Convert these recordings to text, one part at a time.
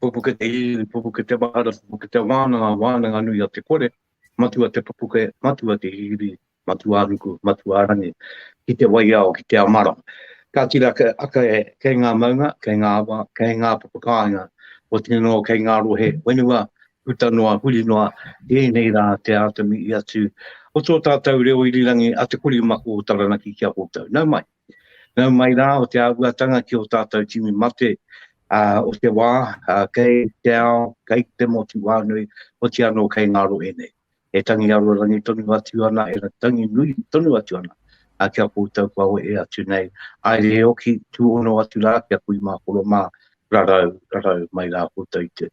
Pupuke te iwi, pupuke te mahara, pupuke te wānanga, wānanga nui a te kore, matua te pupuke, matua te iwi, matua ruku, matua rangi, ki te waiao, ki te amara. Ka tira ke, ake, kei ngā maunga, kei ngā awa, kei ngā papakāinga, o tino kei ngā rohe whenua, Puta noa, huri noa, i ēnei rā te āta mihi atu o tō tātou reo irirangi a Te Kori Mako o Taranaki ki a koutou. Nau mai. Nau mai rā o te āhuatanga ki ō tātou tini mate o te wā, kei te ao, kei te motu wānui, oti anō kei ngā rohe nei. E tangi aruarangi tonu atu ana, e tangi nui tonu atu ana ki a koutou kua wehe atu nei. Haere e oki, tuono atu ra ki a kui ma koro ma, rarau, rarau mai ra koutou i te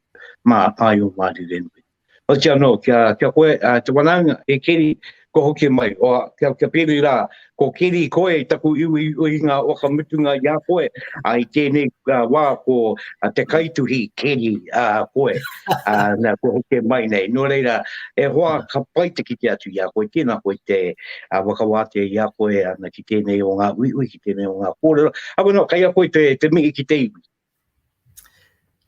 ma ai o Marirenui. Oti ano, ki a koe, te wanaunga, he keri kua hoki mai, oa, kia piri ra, Ko Keri, koe taku uiuinga whakamutunga i a koe, ā, i tēnei wā ko te kaituhi Keri, ā, koe, ā, nā, kua hoke mai nei. Nō reira, e hoa, ka pai te kite atu i a koe, tēnā koe te whakawātea i a koe ana ki tēnei o ngā uiui, ki tēnei o ngā kōrero, ā, wano, kei a koe te mihi ki te iwi.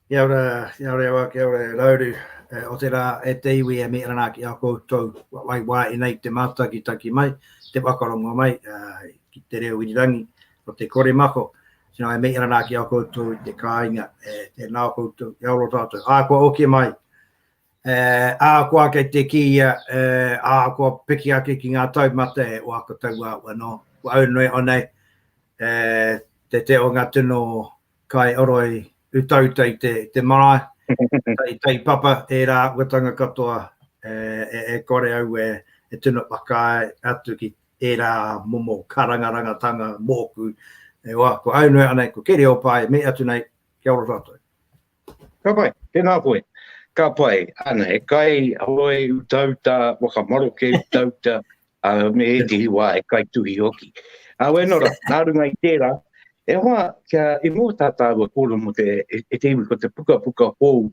Kia ora, kia ora e wā, kia ora e rauru. E, o te rā e te iwi e mea rā ki a koutou, wai wā e nei te mātaki taki mai, te whakarongo mai, uh, ki te reo irirangi, o te kore mako, tino e mea rā ki a koutou te kāinga, e, e nā koutou, kia ora tātou. Ā, kua oke mai, E, ahakoa kei te kīia, e, ahakoa piki ake ki ngā taumata e oako taua au anō, ko au noe onei, e, te te o ngā tino kai oroi utauta i te, te marae, i tai papa e rā āhuatanga katoa, e, e, e kore au e, e tino whakaae atu ki e rā momo karangarangatanga mōku, e oa, ko au noe onei, ko Keriopae, me atu nei, kia ora tātou. Ka pai, tēnā koe. Ka pai, ana, he kai hoi utauta, whakamaroke utauta, a me he tihi wā, he kai tuhi hoki. A wē nora, nā runga i tērā, e hoa, kia i mō tā tāua kōrero mō te, e, e te iwi ko te puka puka hou,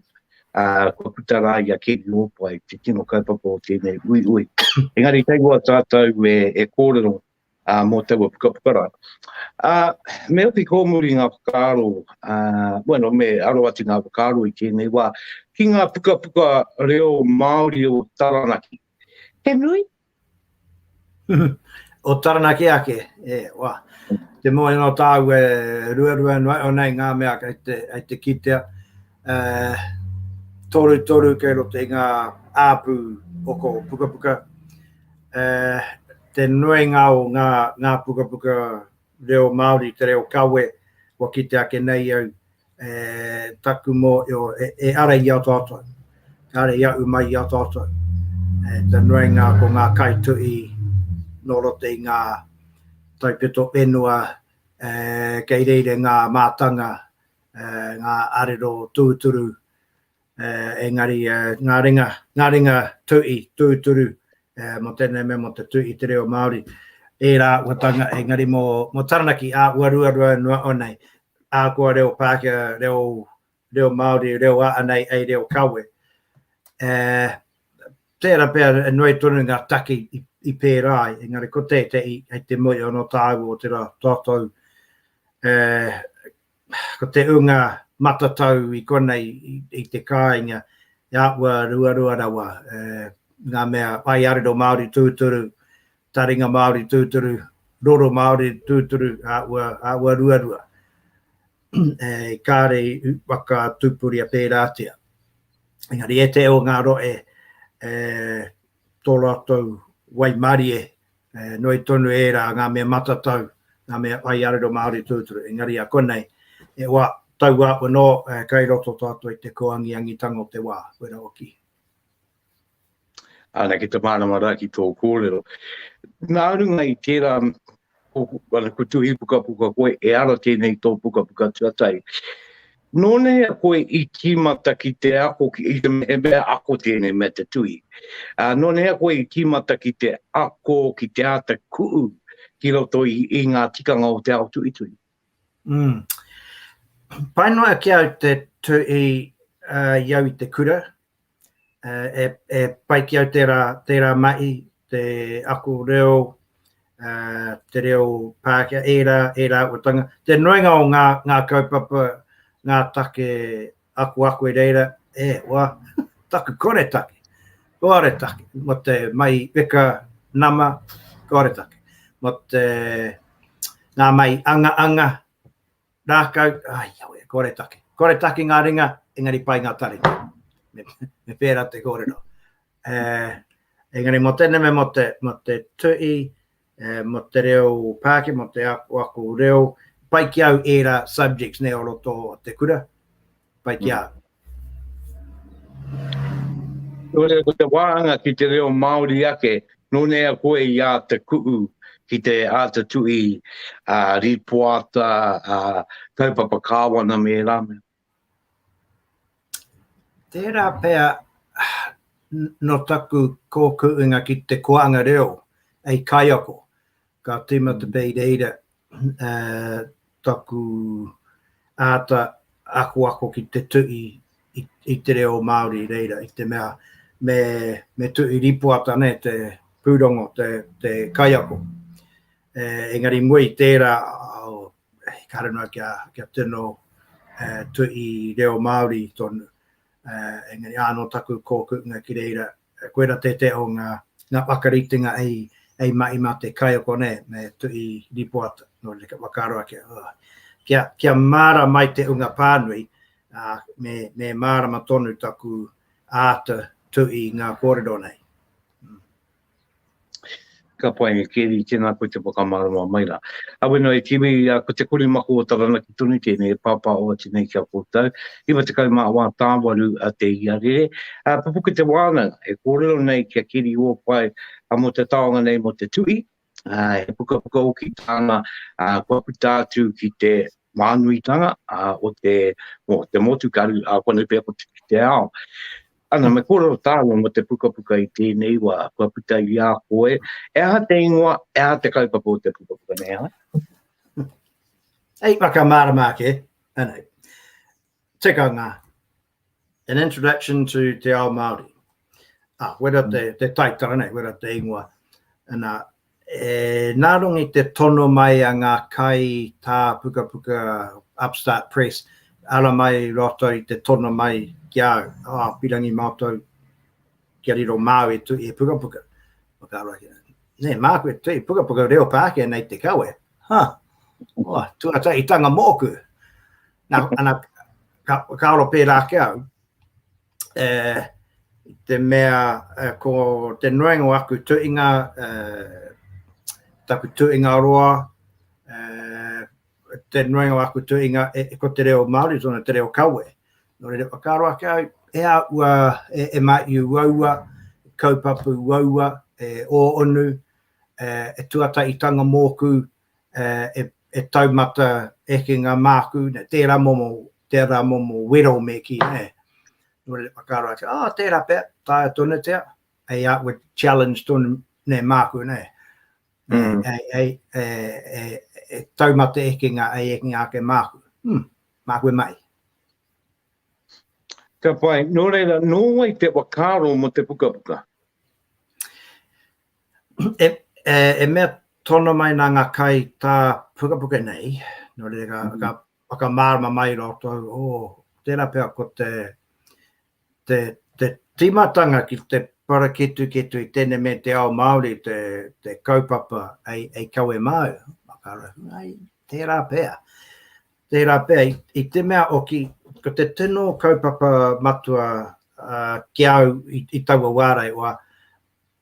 a, kua puta rā i a Keri Ōpai, te tino kaupapa o tēnei ui ui. Engari, kei hoa tātou e, e kōrero, ā, mō taua pukapuka rā. Ā, me hoki kōmuri ngā whakaaro, ā, bueno, me aro atu ngā whakaaro i tēnei wā, ki ngā pukapuka reo Māori o Taranaki. He nui? o Taranaki ake, e, wā. Te moe anō tāu e ruarua anō nei ngā mea kei te, kei te kitea. Ā, toru toru kei roto i ngā āpū o ko pukapuka. Ā, te nuinga o ngā, ngā pukapuka reo Māori, te reo kawe, kua kite ake nei au, e, taku mōhio, e, e ara i a tātou, e ara i aʻu mai i a tātou, e, te nuinga ko ngā kaituhi nō roto i ngā taupeto whenua, e, kei reira ngā mātanga, e, ngā arero tūturu, engari ngā ringa, ngā ringa tu'i, tūturu, mō tēnei mea mō te tu'i i te reo Māori, ērā āhuatanga, engari mō Taranaki āhua ruarua noa au nei, ahakoa reo Pākehā, reo, reo Māori, reo a anei hei reo kawe. Tērā pea e noi tonu ngā take i pērā ai, engari ko tētehi hei te moe anō tāua o te rā, tātou, Ko te ūnga matatau i konei i te kāinga he āhua ruarua rawa, ngā mea whaiarero Māori tūturu, taringa Māori tūturu, roro Māori tūturu, āhua ruarua e kare i whakatupuria pērātia. Engari ētahi o ngā rohe tō rātou waimarie E nui tonu ērā ngā mea matatau, ngā mea whai arero Māori tūturu, engari a konei, he wā taua anō kei roto tātou i te kōangiangitanga o te wā, wera hoki. Ana ki te mārama rā ki tō kōrero. Nā runga i tērā, ko, ko tuhi pukapuka koe, e ara tēnei tō pukapuka tuatahi. Nō nei a koe i tīmata ki te ako ki, i te, he mea ako tēnei mea te tuhi. Ā, nō nei a koe i tīmata ki te ako ki te āta kuʻu ki roto i, i ngā tikanga o te ao tuhituhi. Mm. Pai noa ki au te tuhi i au i te kura, e, e pai ki au tērā, tērā mahi, te ako reo, uh, te reo Pākehā, ērā, ērā uatanga. Te noinga o ngā, ngā kaupapa, ngā take aku ako i reira, e, wā, taku kore take, kore take, mo te mai weka nama, kore take, mo te ngā mai anga anga, Rākau, ai awe, kore take. Kore take ngā ringa, engari pai ngā taringa. Me pērā te kōrero. Uh, engari mō tēnei me mō te, mō te tui, uh, mō te reo pāke, mō te ako, ako reo, pai ki au ērā subjects nei o roto te kura, pai ki mm. au. Kore ko te wāhanga ki te reo Māori ake, nō nea koe i āta kuhu ki te āta tuhi a rīpoata, a kaupapa kāwana me ērā mea? Tērā pea nō taku kōkuinga ki te koanga reo hei kaiako. Ka tīmata pea i reira taku āta akoako ki te tuhi i te reo Māori i reira, i te mea me tuhi rīpoata nei te pūrongo, te kaiako. Engari i mua i tērā, ehara noa kia tino tuhi reo Māori tonu, engari ānō taku kōkuʻunga ki reira, Koira tētehi o ngā whakaritenga hei mahi mā te kaiako nei, me Tuhi Ripoata, nō reira kia whakaaro ake, kia māra mai te unga pānui, me mārama tonu taku āta tuhi i ngā kōrero nei. Ka pai, Keri, tēnā koe te whakamārama mai rā. Awena e Tiwi, ko te kori mako o Taranaki tonu tēnei e pāpā oati nei ki a koutou. Iwa tekau mā wā tāwaru te iarere. Pupuke te wānanga e kōrero nei ki a Keri Ōpae mō te taonga nei mō te tuhi. He pukapuka hoki tāna kua puta atu ki te mānuitanga o te motukaru, koinei pea ko Te Kite Ao. Ana, me kōrero tāua mō te pukapuka i tēnei wā, kua puta i a koe, he aha te ingoa, he aha te kaupapa o te pukapuka nei, hā? Hei whakamārama ake, anei, tikanga, an introduction to te ao Māori. Ah, wera te, mm. te taitara nei, wera te ingoa, ana, E nārongi te tono mai a ngā kai tā pukapuka Upstart Press, ara mai rātou i te tono mai ki a au, ā, pirangi mātou kia riro māu e tui he pukapuka. Whakaaro ake, nē, māku e tui pukapuka reo Pākehā nei te kawe, ha, oh, tuataitanga mōku. Nā, ana, ka, ka aro pērā ake au, te mea ko te noenga o aku tuinga, taku tuinga roa, te noenga o aku tuinga e, e, ko te reo Māori, tōna te reo kawe. Nō reira, whakaaro ake au, e a ua, e, e mā i uaua, kaupapu uaua, e o onu, e, e tuataitanga mōku, e taumata ekenga māku, nē, tērā momo, tērā momo wero me kī, nē. Nō reira, whakaaro atu, ā, tērā pea, taea tonutia, hei outward challenge tonu, nē, māku, nē. Hei, hei, e taumata ekenga, hei ekenga ake māku. Hum, mā koe mai. Ka pai, nō reira, nō wai te whakaaro mō te pukapuka? e mea tono mai nā ngā kai tā pukapuka nei, nō reira ka, mm. ka whakamārama mai rātou, o, oh, tērā pea ko te, te, te tīmatanga ki te paraketuketu i tēne me te ao Māori, te, te kaupapa ei, ei kawe māu, makarahu, ai, tērā pea. Tērā pea, i, i te mea o ki, ko te tino kaupapa matua uh, ki au i, i taua wārai, oa,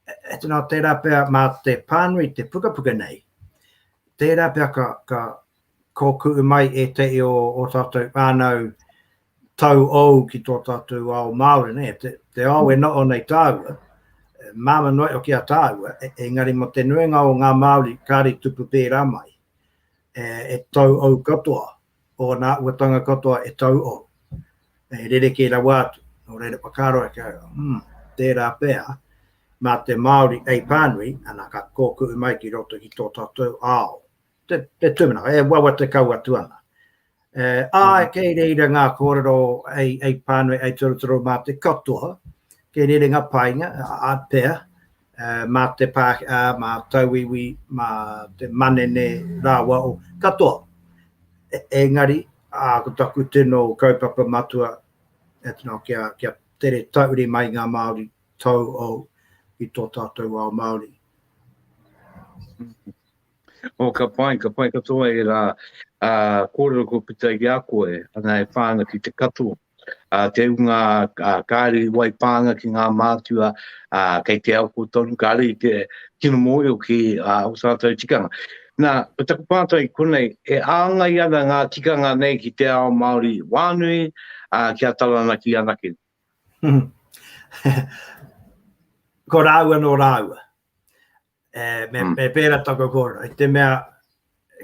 E tino tērā pea mā te pānui te pukapuka nei, tērā pea ka, ka kōkuʻu mai ēteʻi o ō tātou whānau tau ou ki tō tātou ao Māori, ne? te, te ao e noho nei tāua, māma noe o kia tāua, e, engari mo te nuinga o ngā Māori kāre tupu pērā mai, e, e tau ou katoa, o ōna āhuatanga katoa e tauo, e rerekē rawa atu. Nō reira, whakaaro ake au, hmm, tērā pea, mā te Māori hei pānui, ana, ka kōkuʻu mai ki roto i tō tātou ao. Te, te tūmanako, e wawata kau atu ana. E, ā, mm. kei reira ngā kōrero ei, ei pānui, ei torotoro mā te katoa, kei reira ngā painga, a, a pea, mā te Pākehā, mā Tauiwi, mā te manene rāua o katoa. Engari, ko taku tino kaupapa matua, kia tere tauri mai ngā Māori tauou i tō tātou ao Māori. Oh, ka pai, ka pai katoa e rā. Uh, kōrero ko pita i a koe, ana e whānga ki te katoa. Uh, te unga uh, kāre i wai pānga ki ngā mātua, uh, kei te au ko tonu, kāre i te kino mōio ki uh, o tātou tikanga. Nā, ko taku pātai konei, e āngai ana ngā tikanga nei ki te ao Māori wānui, uh, ki a Taranaki anake. ko rāua no rāua. E, me, mm. me pēra toko kōrero, i te mea,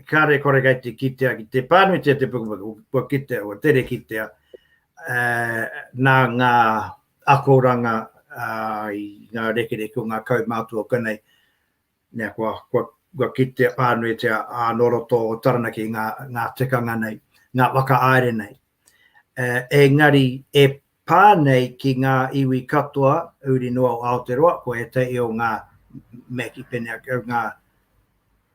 kāre kore kai te kitea ki te pānuitia te pukupuku, kua kitea, kua tere kitea, e, nā ngā akoranga a, i ngā rekereke o ngā kaumātua kanei, nea, kua, kua, kua kitea pānuitia a noroto o Taranaki ngā, ngā tikanga nei, ngā waka aere nei. E, engari, e, pā nei ki ngā iwi katoa uri noa o Aoteroa, ko ētahi o ngā Maki Pene, ngā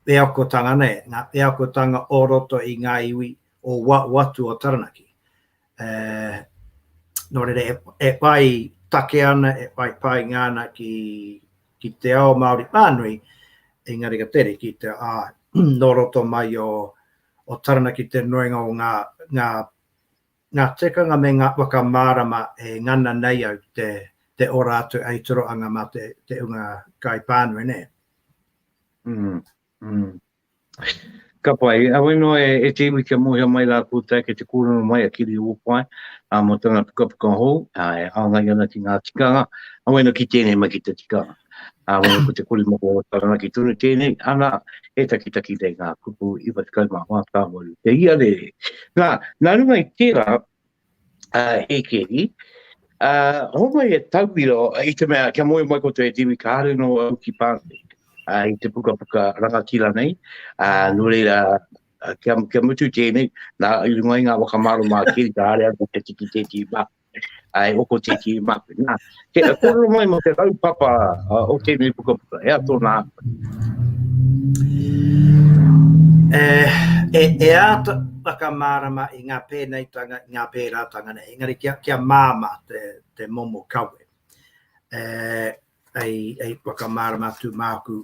wheakotanga nei, ngā wheakotanga o roto i ngā iwi o waho atu o Taranaki. Nō reira, e whai take ana, e whai painga ana ki te ao Māori whānui, engari ka tere ki te, ā, nō roto mai o Taranaki te nuinga o ngā Ngā tikanga me ngā whakamārama e ngana nei au ki te ora atu hei torohanga mā te ūnga kaipānui nē. Ka pai. Heoi anō, e te iwi kia mōhio mai rā koutou kei te kōrero mai a Kiri Ōpae mō tana pukapuka hou e hāngai ana ki ngā tikanga. Heoi anō ki tēnei mai ki te tikanga. Ā, wera ko te kori moko o Taranaki tonu tēnei, ana, he takitaki nei ngā kupu 94 ka waru te ia rē. Nā, nā runga i tērā, ā, e keri, ā, hongoi he tauira i te mea kia moe mai koutou e Tiwi kāre nō au ki Pāne, ā, i te pukapuka rangatira nei, ā, nō reira, kia, kia mutu tēnei, nā, i runga i ngā waka mārama a keri kāre au te tiki tēti mā. ai oko tiki ma na ke ko lo mai mo te rau papa o te ni puka puka e ato na e e e ato paka mara ma i nga pe nei tanga nga pe ra tanga nei ngari kia kia mama te te momo kawe e ai ai paka mara ma tu maku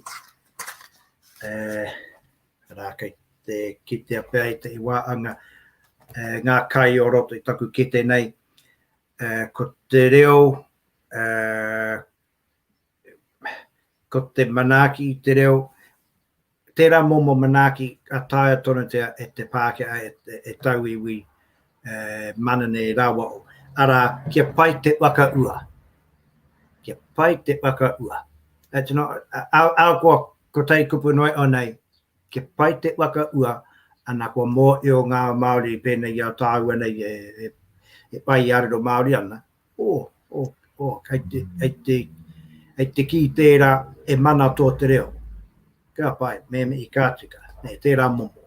e Arā, kei te kitea pea i te wā anga ngā kai o roto i taku kete nei, ko te reo, ko te manaaki i te reo, tērā momo manaaki ka taea tonutia e te Pākehā, e, e, e tauiwi, e, mana nei rawa. Arā, kia pai te whakaua. Kia pai te whakaua. That's not, a, a, a, a, Ko tai kupu noa iho nei, kia pai te waka ua, ana kua mōhio ngā Māori pēnei i a tāua nei e pai i a riro Māori ana, oh, oh, oh, kei te, kei te, kei te kī tērā e mana tō te reo. Ka pai, me mihi ka tika, nē, tērā momo.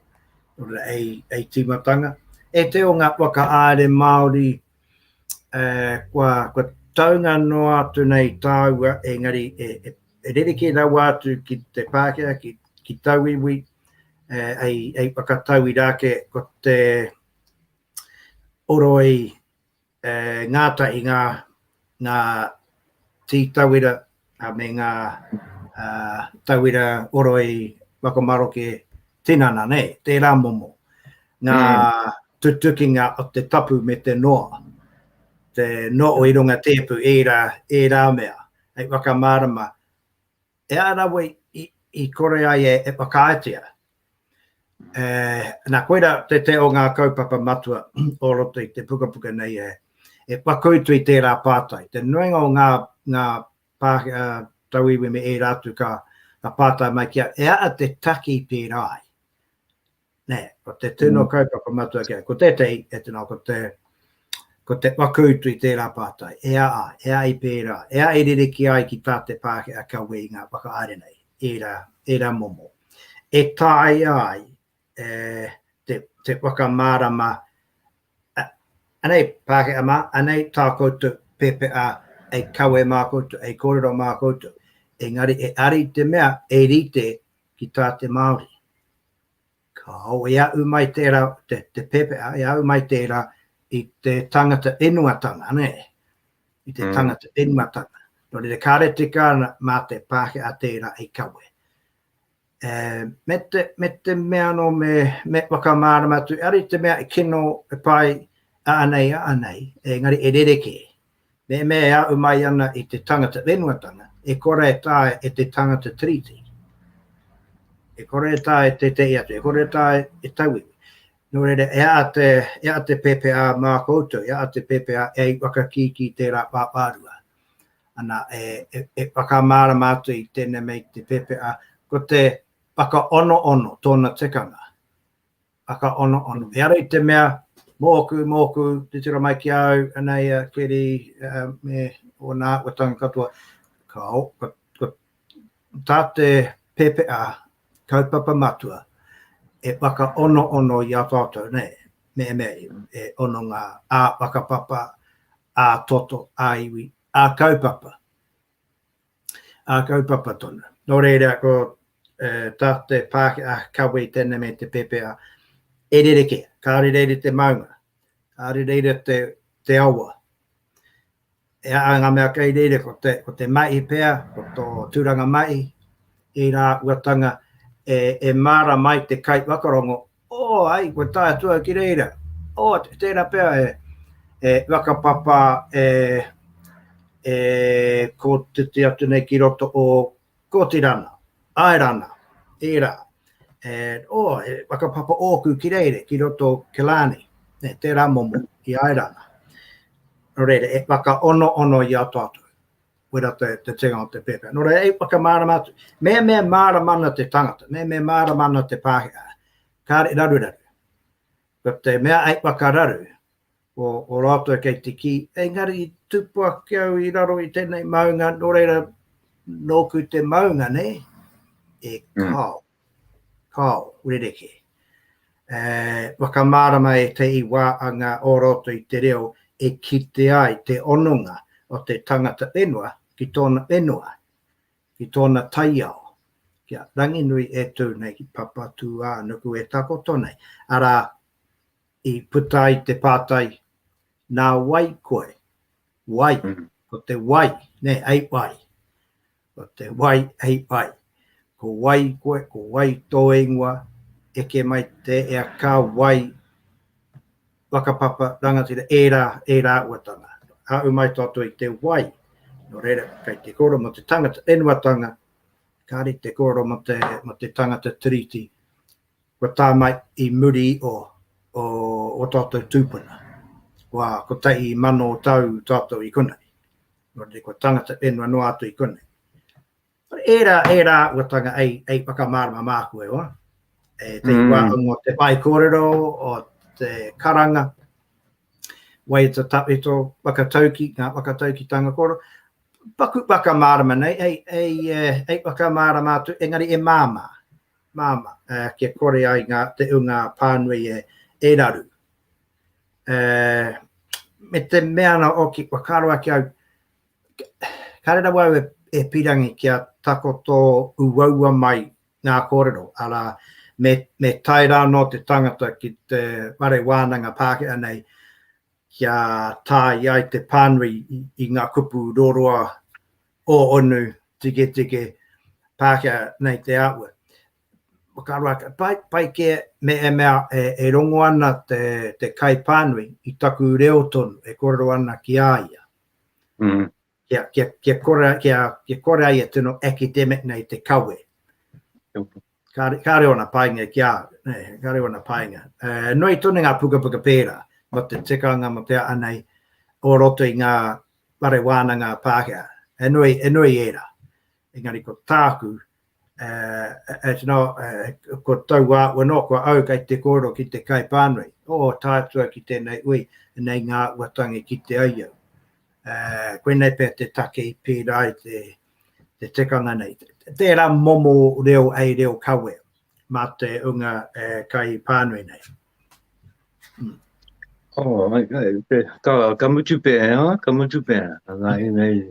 Nō reira, hei, hei tīmatanga, e te o ngā whakahaere Māori kua taunga noa atu nei tāua engari e rerekē rawa atu ki te Pākehā, ki tauiwi, hei whakatauira ake ko te oroi ngātahi ngā tī tauira me ngā tauira oroi whakamaroke tinana nei, tērā momo, ngā tutukinga o te tapu me te noa, te noa i runga tēpu ērā, ērā mea, hei whakamārama, e ara wei i kore ai e whakaaetia, Nā, koirā te o ngā kaupapa matua o roto i te pukapuka nei e whakautu i tērā pātai. Te nuinga o ngā tauiwi me ērā atu ka pātai mai kia, e aha te taki i pērā ai? Nē, ko te tino kaupapa matua kē, ko tētehi e tino, ko te Ko te whakautu i tērā pātai, e ā, e ā i pērā, e ā i rerekē ai ki tā te Pākehā kia wē i ngā whakahaere nei, ērā, ērā momo, e taea ai te, te whakamārama, a, anei Pākehā mā, anei tā koutou PPA e kawe mā koutou, e kōrero mā koutou, engari e ari te mea e rite ki tā te Māori. Ka ao e aʻu mai tērā, te pēpeʻa, e aʻu mai tērā i te tangata whenuatanga, nē, i te tangata whenuatanga. Nō reira, kāre tika ana mā te Pākehā tērā i kawe. Me te, me te mea nō me, me whakamārama atu, ari te mea e kino, e pai, a anei, a anei, engari e rerekē. Mēnā e ahu mai ana i te tangata whenuatanga, e kore e taea e te tangata tiriti, e kore e taea e tētehi atu, e kore e taea e tauiwi. Nō reira, e aha te, e aha te pēpēhā mā koutou, e aha te pēpēhā e ai whakakīkī tērā pāpārua? Ana, e, e, e whakamārama atu i tēnei mei te pēpēhā, ko te whakaonoono tōna tekanga. whakaonoono. He ara i te mea, mōku, mōku, titiro mai ki a au, anei a Keri me ōna āhuatanga katoa. Ka, ka, ka, tā te pepeha kaupapa matua e whakaonoono i a tātou, nei, me, me, e ono ngā ā whakapapa, ā toto, ā iwi, ā kaupapa. Ā, kaupapa tonu. Nō reira, ko tā te Pākehā kawe tēnei me te pēpēha, e rerekē, kāore reira te maunga, kāore reira te awa. E ai ngā mea kei reira, ko te Maihi pea, ko tō tūranga Maihi, ērā uatanga e māra mai te kaiwhakarongo Oh, ai, kua tae atu au ki reira. Oh, tēra pea e, e whakapapa e, e ko te te atu nei ki roto o Kotirana, Airana, ērā. E, oh, e whakapapa ōku ki reira, ki roto o Killarney, e, tērā momo i Airana. Nō reira, e whakaono ono i a tātou. koira te tēnga o te pēpē. Nō reira, e whakamārama atu, me me mārama ana te tangata, me me mārama ana te Pākehā, kāre raruraru. Ko te mea ai whakararu, o, o rātou kei te kī, engari tupu ake au i raro i tēnei maunga, nō reira, nōku te maunga, nei, e mm. kāo. Mm. Kāo, rerekē. E whakamārama e te iwa a ngā o roto i te reo e kite ai te hononga o te tangata whenua ki tōna whenua, ki tōna taiao, ki a Ranginui e tū nei ki Papatūānuku e takoto nei, arā, i puta ai te pātai, nā wai koe? Wai, ko te wai, nē, hei wai? Ko te wai hei pai. Ko wai koe, ko wai tō ingoa, eke mai te ea ka wai, whakapapa, rangatira, ērā, ērā uatanga. Haau mai tātou i te wai, nō reira, kei te kōrero mō te tangata whenuatanga, kāre te kōrero mō te, mō te tangata tiriti, kua tā mai i muri o, o, o tātou tūpuna. Kua kotahi mano tau tātou i konei. nō reira kua tangata whenua noa atu i konei. Ērā, ērā uatanga ei, ei whakamārama māku e oa, e te mm. iwa o te whai kōrero, o te karanga, wai te tawhito, whakatauki, ngā whakatauki tanga kōrero, paku whakamārama nei, ei, ei, eh, ei whakamārama atu, engari e māmā, māmā, uh, kia kore ai ngā, te unga pānui e, e raru, uh, me te mea ana o ki kua karo ake au, kare rawa au e, e pirangi ki a takoto uaua mai ngā kōrero, ara me, me tai rā no te tangata ki te ware wānanga Pākehā nei, kia tāi ai te pānui i, i ngā kupu roroa o onu tike tike Pākehā nei te aua. Whakaroa, pai kē me e mea e rongo ana te kaipānui i taku reo tonu e kōrero ana ki a ia. Kia kore a ia tino academic nei te kawe. Kāore ōna painga ki a au, kāore ōna painga. Nui tonu ngā pukapuka pērā mō te tikanga, mō te aha nei, o roto i ngā whare wānanga Pākehā. He nui ērā. Engari ko tāku, uh, it's not, uh, ko tau wā ua no, ko au kai te kōro ki te kai pānui, o oh, tātua ki tēnei ui, nei ngā ua tangi ki te ai au. Uh, koe nei pē te take i pērā i te, te tekanga nei. Tērā momo reo ei reo kawe mā te unga uh, kai pānui nei. Hmm. Oh, okay. Ka, ka mutu pēhea, ka mutu pēhea. Nā, nei,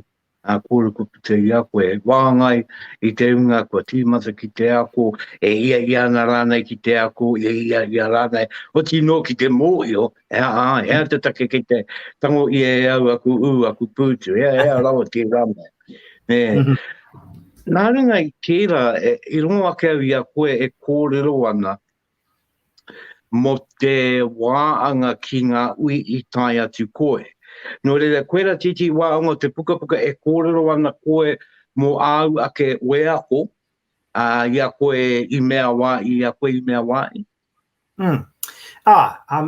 Ā, kua ruku puta i a koe, wāngai i te hunga kua tīmata ki te ako, e hiahia ana rānei ki te ako, e hiahia rānei oti noa ki te mōhio, he aha, he aha te take kei te tango i e au aku ū, aku pūtu, he aha, he aha rawa tērā mea. Nē, nā runga i tērā, i rongo ake au i a koe e kōrero ana, mō te wā anga ki ngā ui i tae atu koe. Nō reira, koirā tītī waonga o te pukapuka e kōrero ana koe mō āu ake wheako, ā, i a koe i mea wā i, i a koe i mea wā i. Mm. Ā, ā,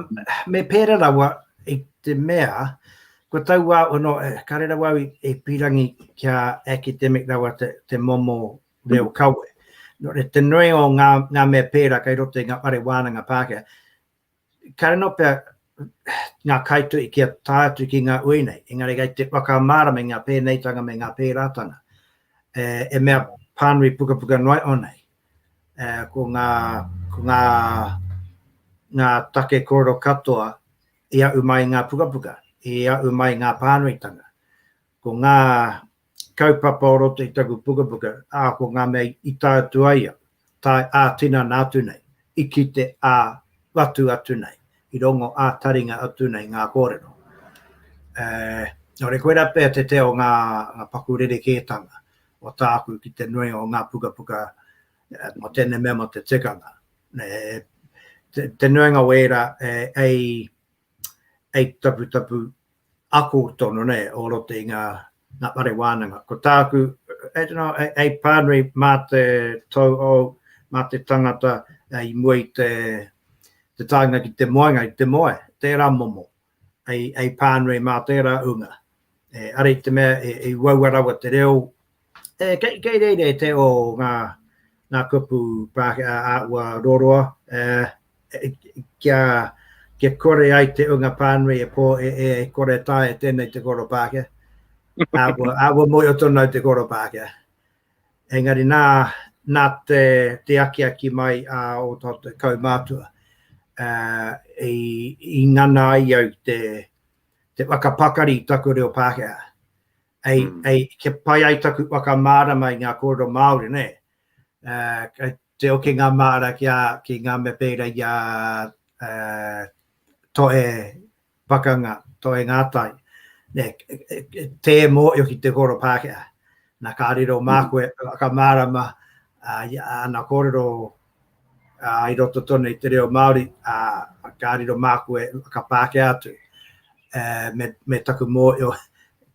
me pērā rawa i te mea, ko tau wā, oh no, kāre rawa au i, i pīrangi kia academic rawa te, te momo reo kawe. Nō reira, te nuinga o ngā, ngā mea pērā kei roto i ngā whare wānanga Pākehā, ka riro pea ngā kaituhi kia tae atu ki ngā ui nei, engari kei te whakamārama i ngā pēneitanga me ngā pērātanga, e, e mea pānui pukapuka noa iho nei, e, ko ngā, ko ngā, ngā take kōrero katoa i aʻu mai i ngā pukapuka, i aʻu mai i ngā pānuitanga. Ko ngā kaupapa o roto i taku pukapuka, ā, ko ngā mea i tae atu ai au, tae ā-tinana atu nei, i kite ā-whatu atu nei, i rongo ā-taringa atu nei ngā kōrero. Ē, nō reira, koirā pea te tea o ngā paku rerekētanga o tāku ki te nuinga o ngā pukapuka mō tēnei mea, mō te tikanga. Te nuinga o ērā, ē, eight taputapu ako tonu nei o roto i ngā whare wānanga. Ko tāku, I don't know, hei, hei pānui mā te tauhou, mā te tangata i mua i te, te taenga ki te moenga, i te moe, tērā momo, hei, hei pānui mā tērā ūnga. E, ara i te mea, e, e uaua rawa te reo E, kei, kei reire te o ngā, ngā kupu Pākehā a ua roroa, e, e, kia, kia kore ai te unga pānui e pō e, e, e kore tae e tēnei te koro Pākehā. a ua, a ua moe o tono te koro Pākehā. Engari nā, nā te, te akiaki mai a o tō te kaumātua, e, i, i ngana ai au te, te whakapakari taku reo Pākehā. Hei, mm. hei, kia pai ai taku whakamārama i ngā kōrero Māori, ne? Uh, te oke ngā māra ki, a, ki ngā mea pēra i a uh, toe pakanga, toe ngātai. Ne, tē mō i ki te kōrero Pākehā. Na ka riro mā mm. koe, ka mārama uh, ana kōrero i roto tonu i te reo Māori, ka riro māku e ka Pākehā atu, me taku mōhio,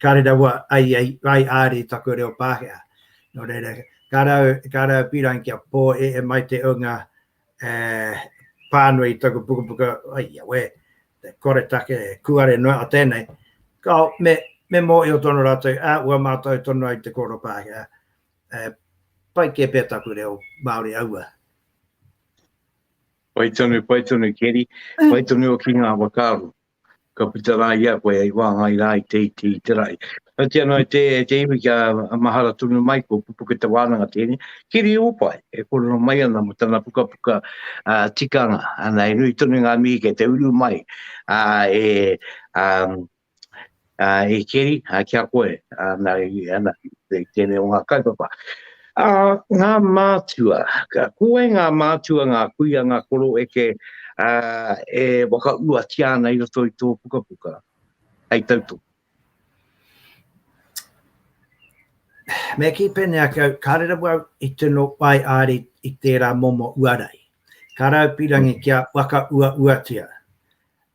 ka reraua ai ai āri i taku reo Pākehā. Nō reira, ka rau, ka rau pīrangi kia pō e e mai te ūnga pānui i taku pukapuka, ai a wē, te koretake, kuare noa a tēnei, ka me, me mōhio tonu rātou, ua mātau tonu ai te kōrero Pākehā, He pai kē pea taku reo Māori aua. Pai tonu, pai tonu Keri, pai tonu ki ngā whakaaro. Ka puta rā ia koe hei wāngai rā i te iti i te rahi. Kati anō e te, e te iwi kia mahara tonu mai ko pupuke te wānanga tēnei. Kiri Upai, e kōrero mai ana mo tana pukapuka uh, tikanga. Ana, e nui tonu ngā mihi kei te uru mai uh, e, um, e keri, ki a koe, nā reira, ana, i tēnei o ngā kaupapa. Ā, ngā mātua, ko wai ngā mātua, ngā kuia, ngā koro eke, ā, e whakauatia ana i roto i tō pukapuka, hei tautoko? Me kī pēnei ake au, kāre rawa au i tino waiāri i tērā momo uarai. Ka raupirangi kia whakauauatia,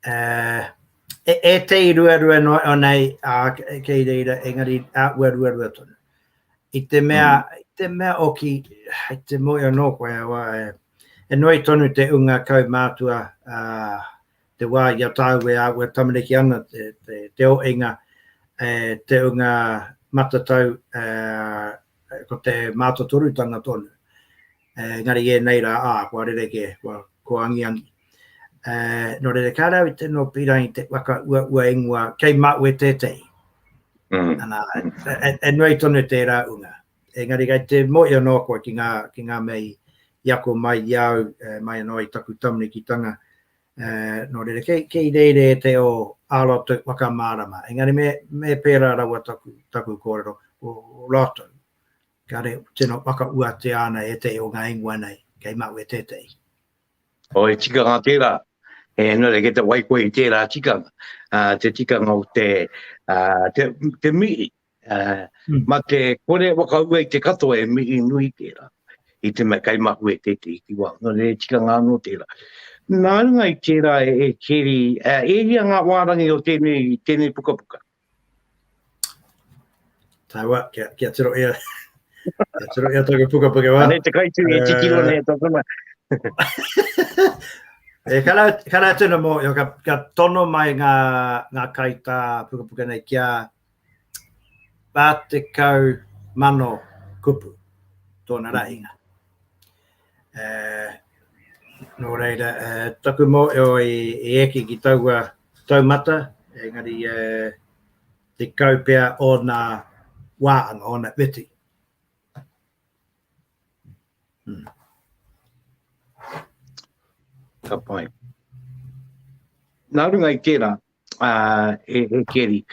e ētehi ruarua noa iho nei kei reira, engari āhua ruarua tonu. I te mea, mm. i te mea oki, i te moe anō koe awa, e, e noi tonu te unga kau mātua, uh, te wā i a tāu e āhua tamariki ana, te, te, te o inga, e, te unga matatau, e, ko te mātotorutanga tonu. E, ngari e nei rā, ā, kua rere kē, kua, kua angiangi. Uh, nō reira, kā rāu te nō pīrangi te waka ua ua ingoa, kei māu e tētei. Mm. Ana, e, e nuai tonu tērā unga. Engari, kei te moio nō koe ki ngā, ki ngā mei i ako mai i au, uh, mai anō i taku tamarikitanga. Uh, nō reira, kei, kei reire e te o āroto waka mārama. Engari, me, me pērā rawa taku, taku kōrero o rātou. Kāre, tēnā waka ua te āna e te o ngā ingoa nei, kei māu e tētei. O he tikanga tērā, e nō reira kei te whai koe i tērā tikanga, uh, te tikanga o te, uh, te, te mihi. Uh, mm. Ma te kore wakaua i te katoa e mihi nui tērā, i te mea kaimahu e te te ki wā, nō reira tikanga anō tērā. Nā runga i tērā e, e keri, uh, e hia ngā wārangi o tēnei, tēnei pukapuka. Tāua, kia, kia tiro ea. kia tiro ea tōku puka puka wā. Nei te kaitū e tikiro nei e tōku mai. e kara, kara tēnā mō, yo, ka, ka tono mai ngā, ngā kai tā puka puka nei kia pātekau mano kupu tōna rahinga. Uh, nō reira, uh, taku mōio i, i eki ki taua taumata, engari uh, te kau pea ōna wāanga, ōna weti. Hmm. Ka pai. Nā runga i tērā, e Keri.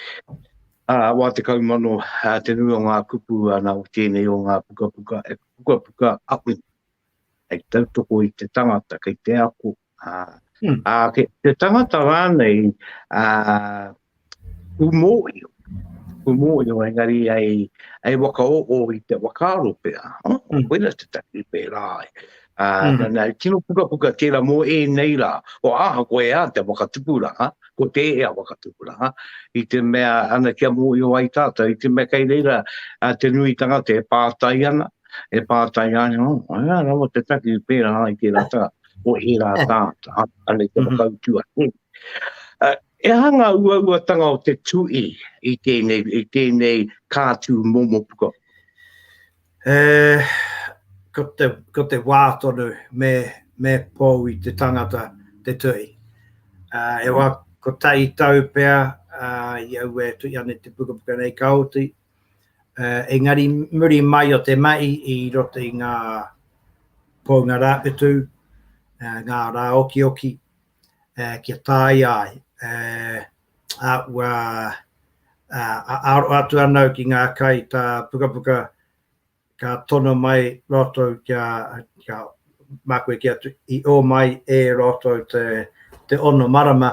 Wā tekau mano te nui o ngā kupu ana o tēnei o ngā pukapuka e pukapuka aku hei tautoko i te tangata kei te ako, ā, kei te tangata rānei kū mōhio, kū mōhio engari hei whakaoho i te whakaaro pea, koina te take i pērā ai. Uh, mm. Nā, tino pukapuka tērā mō e nei rā, o aha ko e a te whakatupuranga, ko te e a whakatupuranga, i te mea ana kia mō i o ai tātou, i te mea kei reira uh, te nui tangata e pātai ana, e pātai ana, oh, ana rawa te taki i pērā ai ki rā tā, o e rā tā, tā, ana i te mhm. whakautua. Mm. Uh, e hanga ua ua tanga o te tui i tēnei, i tēnei kātū momo pukapuka. E, ko te, ko te wā tonu me, me pou i te tangata te tuhi. Uh, e wā, ko tai tau pea uh, i au e tui ane te pukapuka nei ka oti. Uh, engari muri mai o te mai i roto i ngā pounga rāwhetu, uh, ngā rā oki oki, uh, kia tāia ai. Uh, a, ua, uh, a aro atu anau ki ngā kai tā pukapuka ka tono mai roto kia, kia mākue ki atu i o mai e roto te, te ono marama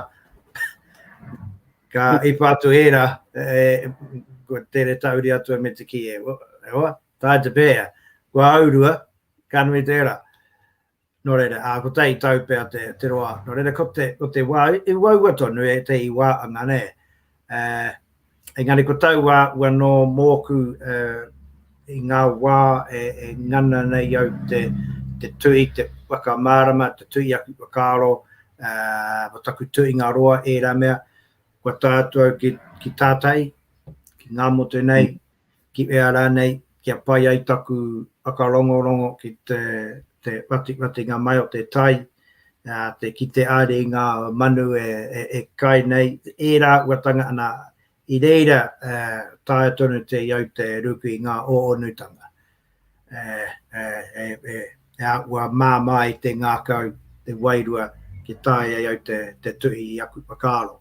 ka mm. ipa atu era e, ko tere tauri atu me te ki e, e oa, tā te pēa, kua aurua, ka nui te era. Nō reira, ā, ko tēi tau pea te roa, nō reira, ko te, ko te wā, i uaua tonu e te i wā anga, nē. Engari ko tau wā, ua nō mōku i ngā wā e, e ngana nei au te, te tui, te whakamārama, te tui aku whakaaro, ā, taku tuinga roa, ērā mea, kua tātu au ki, ki tātai, ki ngā motu nei, ki ea rānei, kia pai ai taku whakarongorongo ki te whatiwhatinga mai o te tai, te kite haere i ngā manu e kai nei, ērā āhuatanga, ana, i reira taea tonu te iau te ruku i ngā ōonutanga e āhua māmā ai te ngākau, te wairua, kia taea e au te tuhi i aku whakaaro.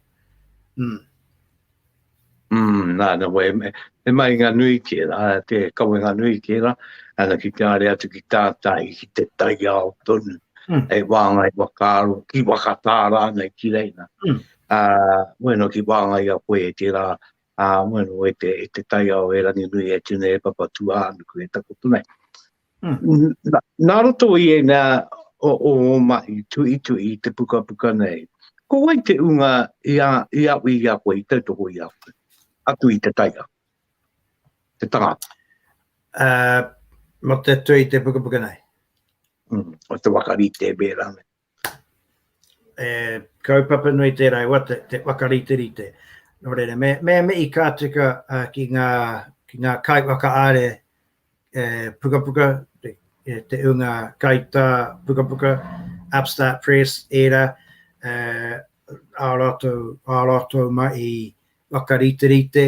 Umm. Mm, nā, nā, wei, me, me mai ngā nui ki era, te kawe ngā nui ki era, ana ki te are atu ki tātai, ki te tai ao tonu, mm. e wāngai wakaaro, ki wakatāra nei ki reina. Mm. Uh, bueno, ki wāngai a koe e te rā, uh, bueno, e te, e te tai ao e rangi nui e tine e papa tuā anuku e takoto nei. Nā roto i ēnā o ō mahi tuituhi i te pukapuka nei, ko wai te ūnga i aui i a koe, i tautoko i a koe, atu i te taiao, te tangata? Mate atu i te pukapuka nei. O te waka rite, mēra nei. E kaupapa nui tērā e wate, te whakariterite. Nō reira, me, me mihi ka tika uh, ki, ngā, ki ngā kai whakaare e pukapuka, te, e te unga kaitā pukapuka, Upstart Press, era, uh, ā rātou, ā rātou mai i whakariterite,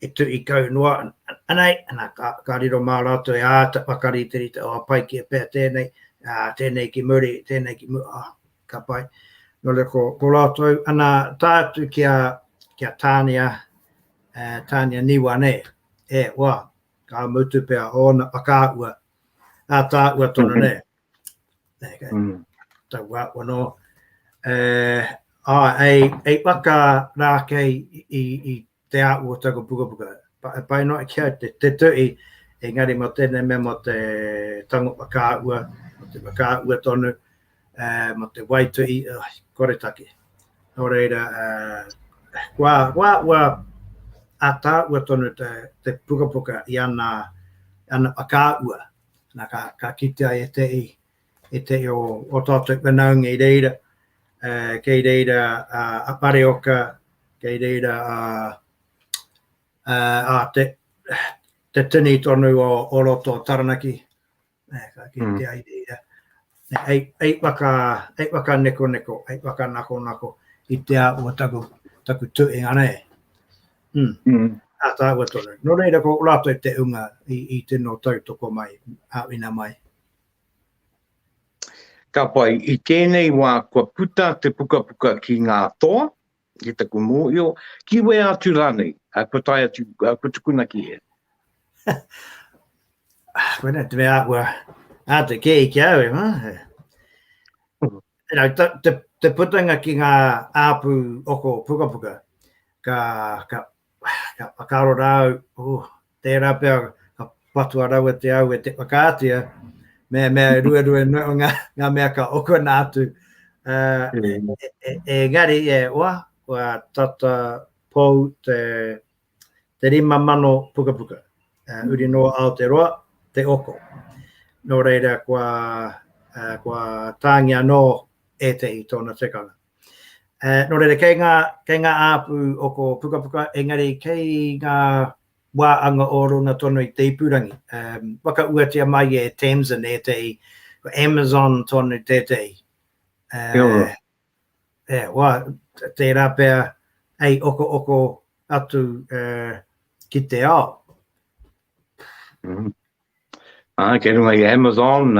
e tuhi kau noa nei, ana, ka, ka riro mā rātou e āta whakariterite, oh, pai ki e pea tēnei, uh, tēnei ki muri, tēnei ki muri, oh, ka pai. Nō re, ko, ko rātou, ana, tā atu ki a, ki a Tānia, uh, Tānia Niwa nei, e, wā, ka mutu pea, ōna whakaahua, ā tā ua tonu mm-hmm. nei. Nei, kei. Mm. Tā ua, ua nō, uh, ai, ai, ai waka rākei i, i, i te a ua taku pukapuka. E pai noa ki au te, te tuhi, engari mo tēnei mea mo te tango whakaahua, mo te whakaahua tonu, uh, mo te waituhi, uh, ah, kore take. Nō reira, uh, kua, kua, kua atāua tonu te, te pukapuka i ana, ana whakaahua. Nā, ka, ka kitea e te i, e te reo o tātou whanaunga i reira, uh, kei reira uh, a Pareoka, kei reira a, uh, a te, te tini tonu o, o roto o Taranaki, uh, ka kei mm. te ai reira, ei, ei, waka, ei waka neko neko, ei waka nako nako, i te a o taku, taku tu e ngana e. Mm. Mm. A tāua tonu. Nō reira ko rātou te unga i, i tino tautoko mai, a wina mai. Ka pai, i tēnei wā kua puta te pukapuka ki ngā toa, ki taku mōhio, ki wea atu rānei, kua tae atu, kua tukuna ki hea? Wena, te mea kua āta kē ki au, e mā. Te putanga ki ngā āpū oko pukapuka, ka, ka, Ka karo rā au, oh, tērā pea ka patua raua te au e te whakaatea, mea mea e ruerue no ngā, ngā mea ka okona atu. Uh, e, e, e gari e oa, kua tata pou te, te rima mano puka puka. Uh, uri no Aoteroa, te oko. Nō reira, kua, uh, kua tāngi anō ētehi tōna tekanga. Nō reira, kei ngā, kei ngā āpu o ko pukapuka, engari kei ngā wā anga o runga tonu i te ipurangi. Whakauatia mai e Tamsin ētehi, ko Amazon tonu tētehi. Kia ora. E, wā, tērā pea hei oko oko atu ki te ao. Kei runga i a Amazon,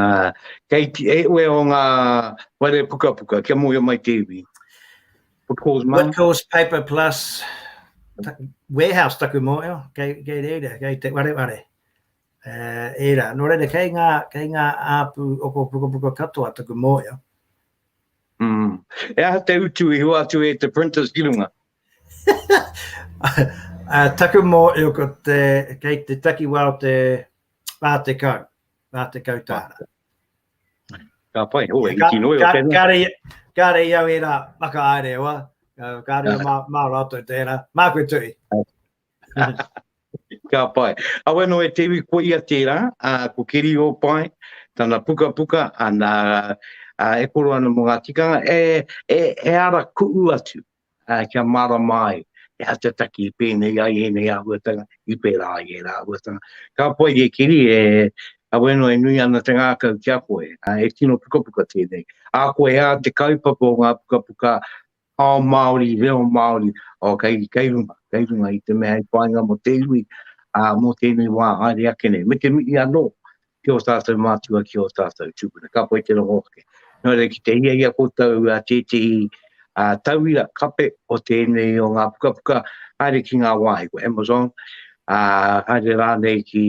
kei te ewe o nga ware pukapuka, kia mohio mai te iwi. Woodcourse Mart. Woodcourse Paper Plus Warehouse taku mohio, kei reira, kei te wareware. Era, no reira, kei nga, kei nga apu oko pukapuka katoa taku mohio. E aha te utu i hua atu e te printers ki runga? Taku mōhio ko te, kei te takiwā o te rā tekau, rā tekau tāra. Ka pai, oh, e hiki noi o tēnā. Kāre, kāre i au e rā, maka aere oa, kāre mā, mā rātou tērā, mā koe tui. Ka pai. Awe no e te iwi ko ia tērā, a, ko Kiri o Pai, tana puka puka, ana, a, e koro ana mo ngā tikanga, e, e, e ara kuu atu, ā, kia mārama ai he atataki i pēnei ai ēnei āhuatanga, i pērā ai ērā āhuatanga. Ka pai e Kiri, e, Aweno e nui ana te ngākau ki a koe, ā, he tino pukapuka tēnei. Ā koe ā te kaupapa o ngā pukapuka ao Māori, reo Māori, ō, kei, kei runga, kei runga i te mea hei whāinga mō te iwi, ā, mō tēnei wā haere ake nei. Me te mihi anō, ki ō tātou mātua, ki ō tātou tūpuna. Ka pai te rongo ake. Nō reira, ki te hiahia koutou a tētehi a tauira kape o tēnei o ngā pukapuka, haere ki ngā wāhi ko Amazon, a, haere rānei ki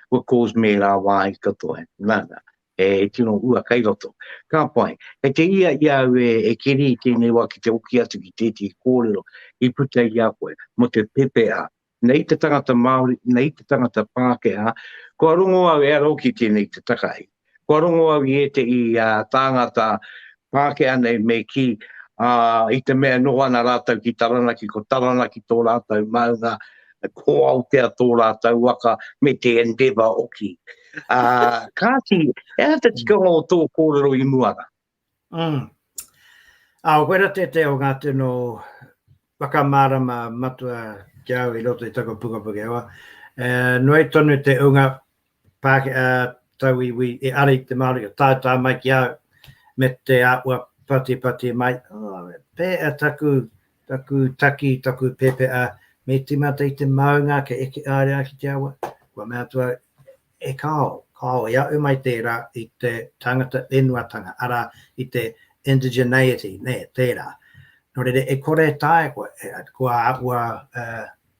What Calls Me rā wāhi katoa. Nā, nā, e tino ua kai roto. Ka pai, kei te ia i au e, e keri i tēnei wā ki te oki atu ki tētehi kōrero i puta i a koe mō te pepeha Nei te tangata Māori, nei te tangata Pākehā, kua rongo au e aro ki tēnei te takahi. Kua rongo au i ētehi tāngata Pākehā nei me kī, ā, i te mea e noho ana rātou ki Taranaki, ko Taranaki tō rātou maunga, ko Aotea tō rātou waka, me te Endeavour hoki. Ā, kāti, he aha te tikanga o tō kōrero i mua rā? Mm. Ā, koe ra tētehi o ngā tino whakamārama matua ki au i roto i taku puka Pakeawa. E, noi tonu te unga pāke, a, tauiwi e ara i te Māori ka tātā mai ki au me te āhua patipati mai. Oh, pē a taku, taku taki, taku pēpēa, me tīmata i te maunga ke eke ārea ki te awa. Kua mea atu au, E kāo, kāo, e aʻu mai tērā i te tangata whenuatanga, arā, i te indigeneity, nē, tērā. Nō reira, e kore e taea koe, kua āhua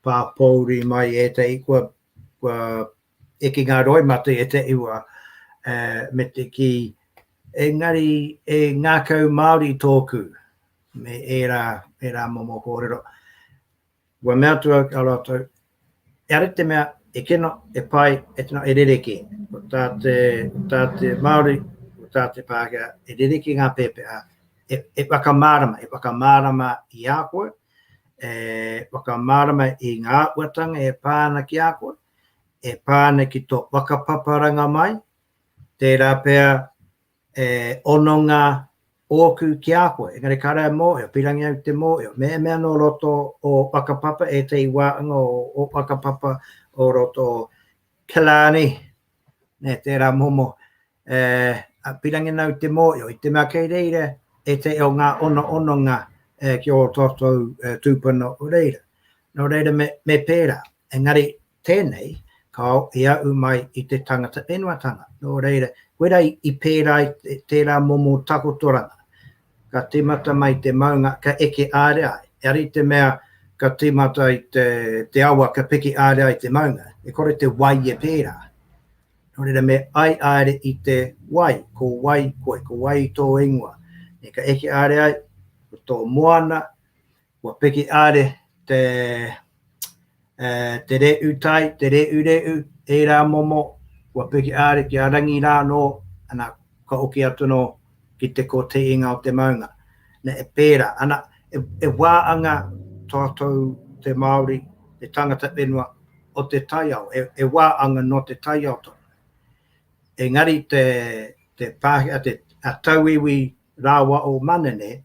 pāpōuri mai ētahi, kua, kua eke ngā roimata i ētahi wā, me te kī, engari e ngākau Māori tōku, me ērā, ērā momo kōrero. Kua mea atu au ki a rātou, Kia rite mea e kino, e pai, e tino, e rerekē. Ko tā te, ko tā te Māori, ko tā te Pākehā, e rerekē ngā pēpeha, e, e whakamārama, e whakamārama i a koe, e whakamārama i ngā āhuatanga e pā ana ki a koe, e pā ana ki tō whakapaparanga mai, tērā pea E hononga ōku ki a koe, engari ka rere mōhio, pīrangi au te mōhio, me mea nō roto o Whakapapa, ētahi wāhanga o Whakapapa o roto o Killarney, nē, tērā momo, e, a, pīrangi nau te mōhio, i te mea kei reira ētahi o ngā ono ononga e, ki o tōtou e, tūpuna o reira. Nō reira me, me pērā, engari Tēnei, kāo i aʻu mai i te tangata whenuatanga, nō reira, koe rā i pērā i tērā momo takotoranga. Ka tīmata mai te maunga, ka eke ārea ai. Engari i te mea ka tīmata i te awa, ka piki ārea ai te maunga, e kore te wai e pērā. Nō reira, me ai āere i te wai, ko wai koe, ko wai tō ingoa. Ka eke ārea ai, ko tō moana, Kua piki are te te re'u tai, te re'u re'u, eira momo, kua piki are ki a Rangi ra no, ana, ka oki atu no ki te ko te inga o te maunga. Na, e pera, ana, e, e wa anga tatou te Maori, te tangata whenua o te taiao, e, e wa anga no te taiao tonu. Engari te, te Pakeha, te, a Tauiwi rawa o Manene,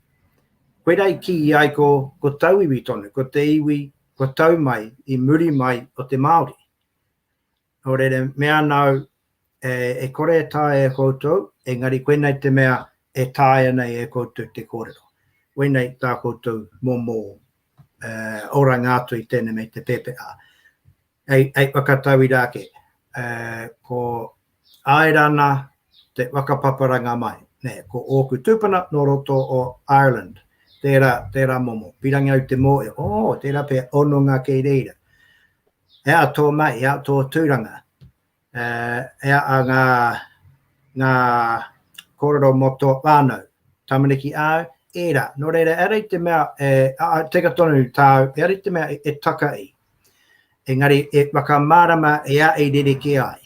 Koirā i kī i ai ko, ko tauiwi tonu, ko te iwi kua tau mai i muri mai o te Māori. Nō reira, me ana au, e, e kore e taea e koutou, engari koinei te mea e taea nei e koutou te kōrero. Koinei tā koutou momo e, oranga atu i tēnei nei te pēpeha. Hei whakatauira ake, ko Aerana te whakapaparanga mai, ko ōku tūpuna nō roto o Ireland, tērā momo, pīrangi au te mōhio, oh, tērā pea hononga kei reira. He aha tō mahi, he aha tō tūranga? Heaa a nga nga korero mo to whanau tamariki au? Era, no reira era i te mea e teka tonu tau, era i te mea e taka i. Engari e whakamarama e a e rereke ai.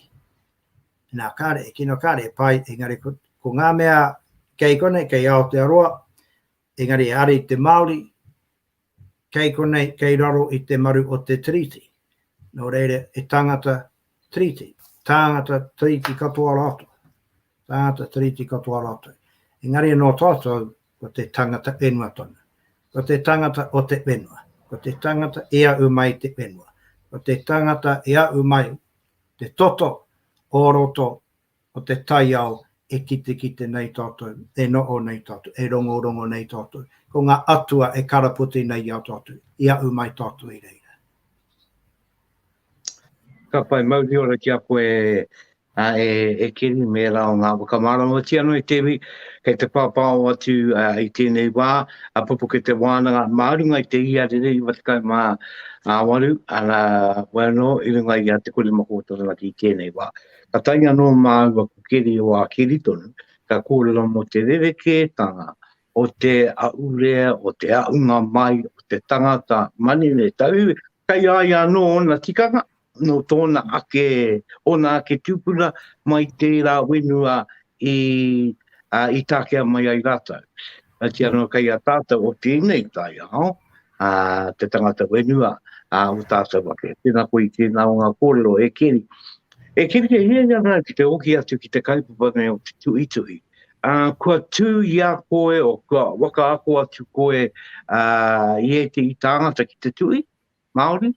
Na kare e kino kare e pai, engari ko, ko nga mea kei kona, kei Aotearoa, engari e ara i te Maori, kei konei, kei raro i te maru o te Tiriti. Nō reira, he tāngata Tiriti, tāngata Tiriti katoa rātou, tāngata Tiriti katoa rātou. Engari anō tātou, ko te tāngata whenua tonu. Ko te tāngata o te whenua. Ko te tāngata i ahu mai te whenua. Ko te tāngata i ahu mai te toto o roto o te taiao e kitekite nei tātou, e noho nei tātou, e rongorongo nei tātou. Ko ngā atua e karapoti nei i a tātou, i ahu mai tātou i reira. Ka whai mauri ora ki a koe a e, e kiri me rā o ngā whakamāramotia no i te iwi, kei te pāpāo atu a, i tēnei wā, a pupuke te wānanga mā runga i te ia rere i watakau mā a waru, a rā, wano, i runga i a te kore mako o Taranaki i tēnei wā. Ka tae anō māua ko Keri o Ākeritona, ka kōrero mō te rerekētanga o te ahurea, o te ahunga mai o te tangata manene tau, kei a ia anō ōna tikanga, nō tōna ake, ōna ake tūpuna mai tērā whenua i, i takea mai ai rātou. Kati anō kei a tātou o tēnei taiao, a te tangata whenua a o tātou ake. Tēnā koe tēnā o ngā kōrero e keri. E keri te hienga rā ki te oki atu ki te kaupapa nei o te tuhituhi. A, kua tū i a koe o kua waka ako atu koe a, i e te i tāngata ki te tuhi, Māori,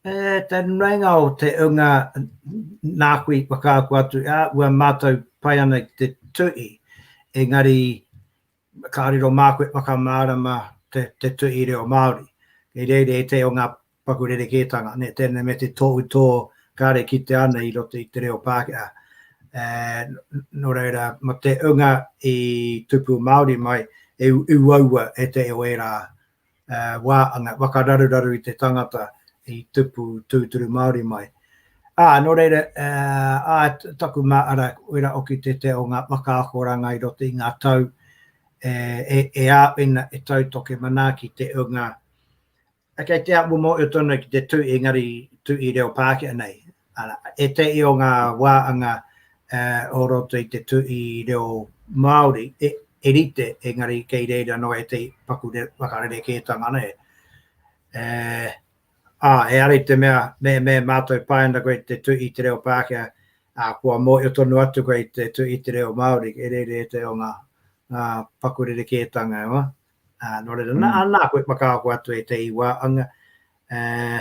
E te nuinga o te unga nāku i whakaako atu, ā, ua mātou pai ana ki te tuhi, engari kāore rō māku e whakamārama te, te tuhi reo Māori. Kei reira he te o ngā paku rerekētanga, nē, tēnei me te tohutō kāre kitea ana i roto i te reo Pākehā. E, nō reira, ma te unga i tupu Māori mai, e uaua e te o ērā e, wā anga, wakararuraru i te tangata i tupu tūturu Māori mai. Ā, nō reira, e, ā, taku mā ara, wera oki te te o ngā whakaakoranga i roto i ngā tau, e, e, e āwhina e tautoke manā ki te unga, Kei te amu moe tonu ki te tu i engari tu i reo Pākehā nei. Ara, ētehi o ngā wāanga o roto i te tu i reo Māori e rite engari kei reira noa ētehi paku whakarerekētanga nei. Ā, ehara i te mea mehemea e mātou pai ana koe te tu i te reo Pākehā, ā, kua mōhio tonu atu koe i te tu i te reo Māori, e rere ētehi o ngā paku rerekētanga e hoa. Ā, nō reira, nā, mm. nā koe whakaako atu e te iwa, anga, uh,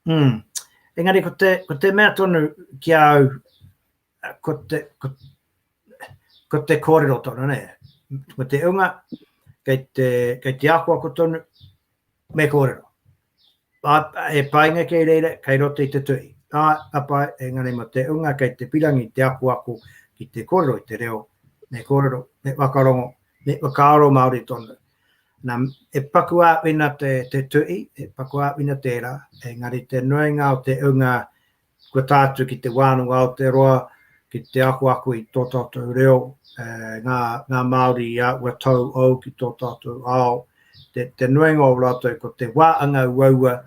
mm, engari ko te, ko te mea tonu ki au, ko te, ko, ko te kōrero tonu, ne? Ko te unga, kei te, kei te ako ako tonu, Me kōrero. Ā, he painga kei reira, kei roto i te tuhi. Ā, ka pai, engari mō te ūnga kei te pirangi te akoako ki te kōrero i te reo, me kōrero, me whakarongo, me whakaaro Māori tonu. Nā, he paku āwhina te, te tuhi, he paku āwhina tērā, engari te nuinga o te ūnga Kua tā atu ki te wānanga Aotearoa, ki te ako ake i tō tātou reo, ngā Māori i a ua tau ou ki tō tātou ao, te nuinga o rātou ko te wā anga uaua,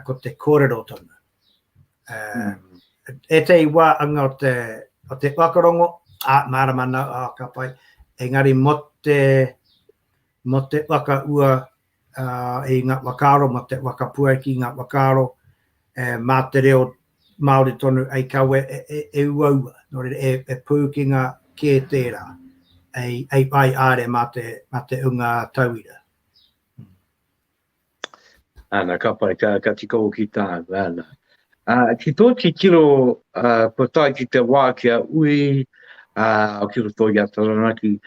ko te kōrerotanga. Ētahi wā anga o te whakarongo, ā, mārama nā, ā, ka pai, engari mō te whakaua i nga whakaaro mo te whakapuaki ki nga whakaaro ma te reo Maori tonu ei kawe e uaua, no reira e puukinga ke tera ei whai aare ma te unga tauira. Ana, ka pai, ka tika hoki taau, ana. Ki tō titiro kua tae ki te wā kia ui ki roto i a Taranaki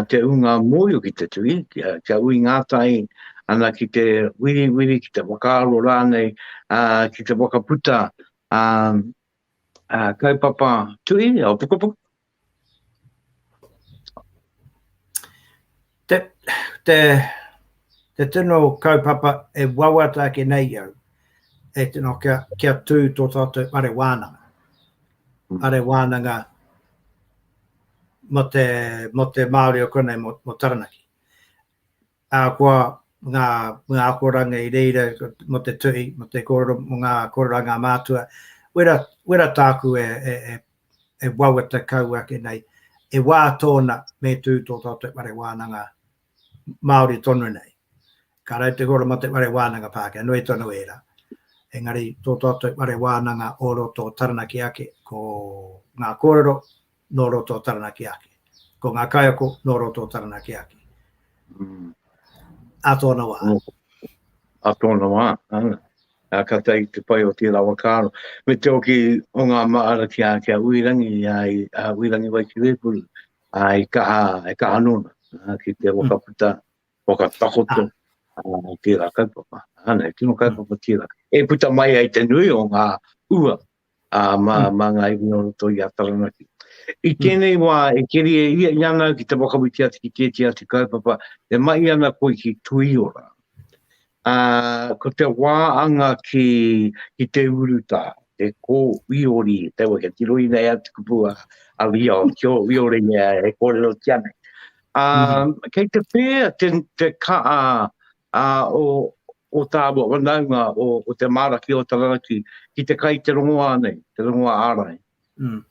te ūnga mōio ki te tui, kia ui ngātahi ana ki te wiriwiri, ki te whakaaro rānei, ki te whakaputa kaupapa tui, pukapuka, Te, te, te tino kaupapa e wawata ake nei au, e tino kia, kia tū tō tātou are wānanga. Mm. Are wānanga mo te, mo te Māori o konei, mo, mo Taranaki. Ahakoa ngā, ngā akoranga i reira mō te tuhi, mō te kōrero, mō ngā kōrero a ngā mātua, wera, wera tāku e, e, e, e wawata kau ake nei, e wā tōna me tū tō tātou whare wānanga Māori tonu nei. Ka rau te kōrero mō te whare wānanga Pākehā, nui tonu ērā. Engari tō tātou whare wānanga o roto o Taranaki ake, ko ngā kōrero, nō roto o Taranaki ake. Ko ngā kaiako nō roto o Taranaki ake. Mm. A tōna wā. Oh. A tōna wā. Ah. A ka tai te pai o tērā wa kāro. Me te oki o ngā maara ki a, ki a Uirangi, a, a Uirangi wai ki Wēpuru, a i kaha, i kaha nōna, a, ki te wakaputa, wakatakoto, a, a tērā kaupapa. Ana, e tino kaupapa tērā. E puta mai ai te nui o ngā ua, ā, mā, mā ngā iwi o roto i a Taranaki. I tēnei wā e keria ia i ana au ki te whakawhiti atu ki tēti atu kaupapa e mahi ana koe ki Tuiora. Ā, ko te wā anga ki, ki te urutā, te kō uiori, te wā kia tiroina e atu kupu a, a Ria o kio uiori e, e kōrero ki anei. Ā, kei te pēa te, te kaa, a o o tāua whanaunga o o te māra ki o Taranaki ki te kai te rongoā nei, te rongoā ārai. Mm.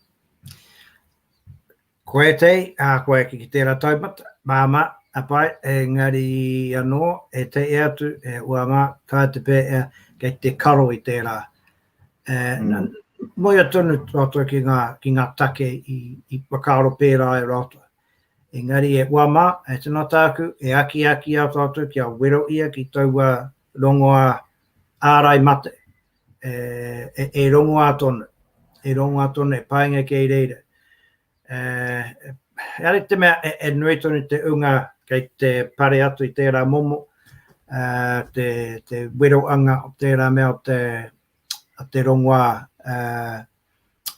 Ko ētei, a ko eki ki tērā taumata, māma, a pai, engari anō, e te e atu, e ua mā, tā te pē, e, kei te karo i tērā. E, mm. Moia tonu rātou ki ngā, ki ngā take i, i whakaaro pērā e rātou. Engari e ua ma, e tino tāku, e akiaki au tātou kia wero ia ki taua rongoā ārai mate, e rongoā tonu, e rongoā tonu, e painga kei reira. Engari te mea e nui tonu te unga kei te pare atu i tērā momo, te weroanga o tērā mea o te rongoā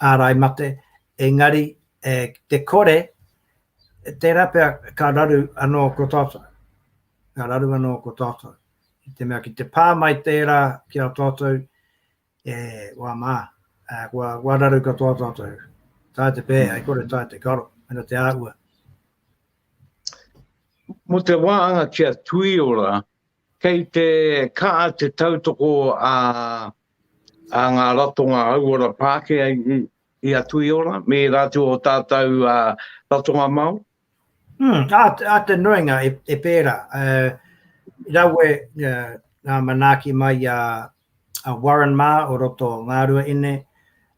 ārai mate, engari e, te kore, tērā pea ka raru anō ko tātou. Ka raru anō ko tātou. I te mea ki te pā mai tērā ki a tātou, e, wā mā, e, kua, kua raru katoa tātou. Tā te pē, ai kore tā te karo, mena te āhua. Mo te wānga kia tuiora Kei te kaha te tautoko a a ngā ratonga hauora Pākehā i a Tuiora me ērā atu o tātou ratonga Māori? Hm, ā, ā te nuinga e pērā. Rawe ngā manaaki mai a. a Warren mā o roto o Ngārua Ine,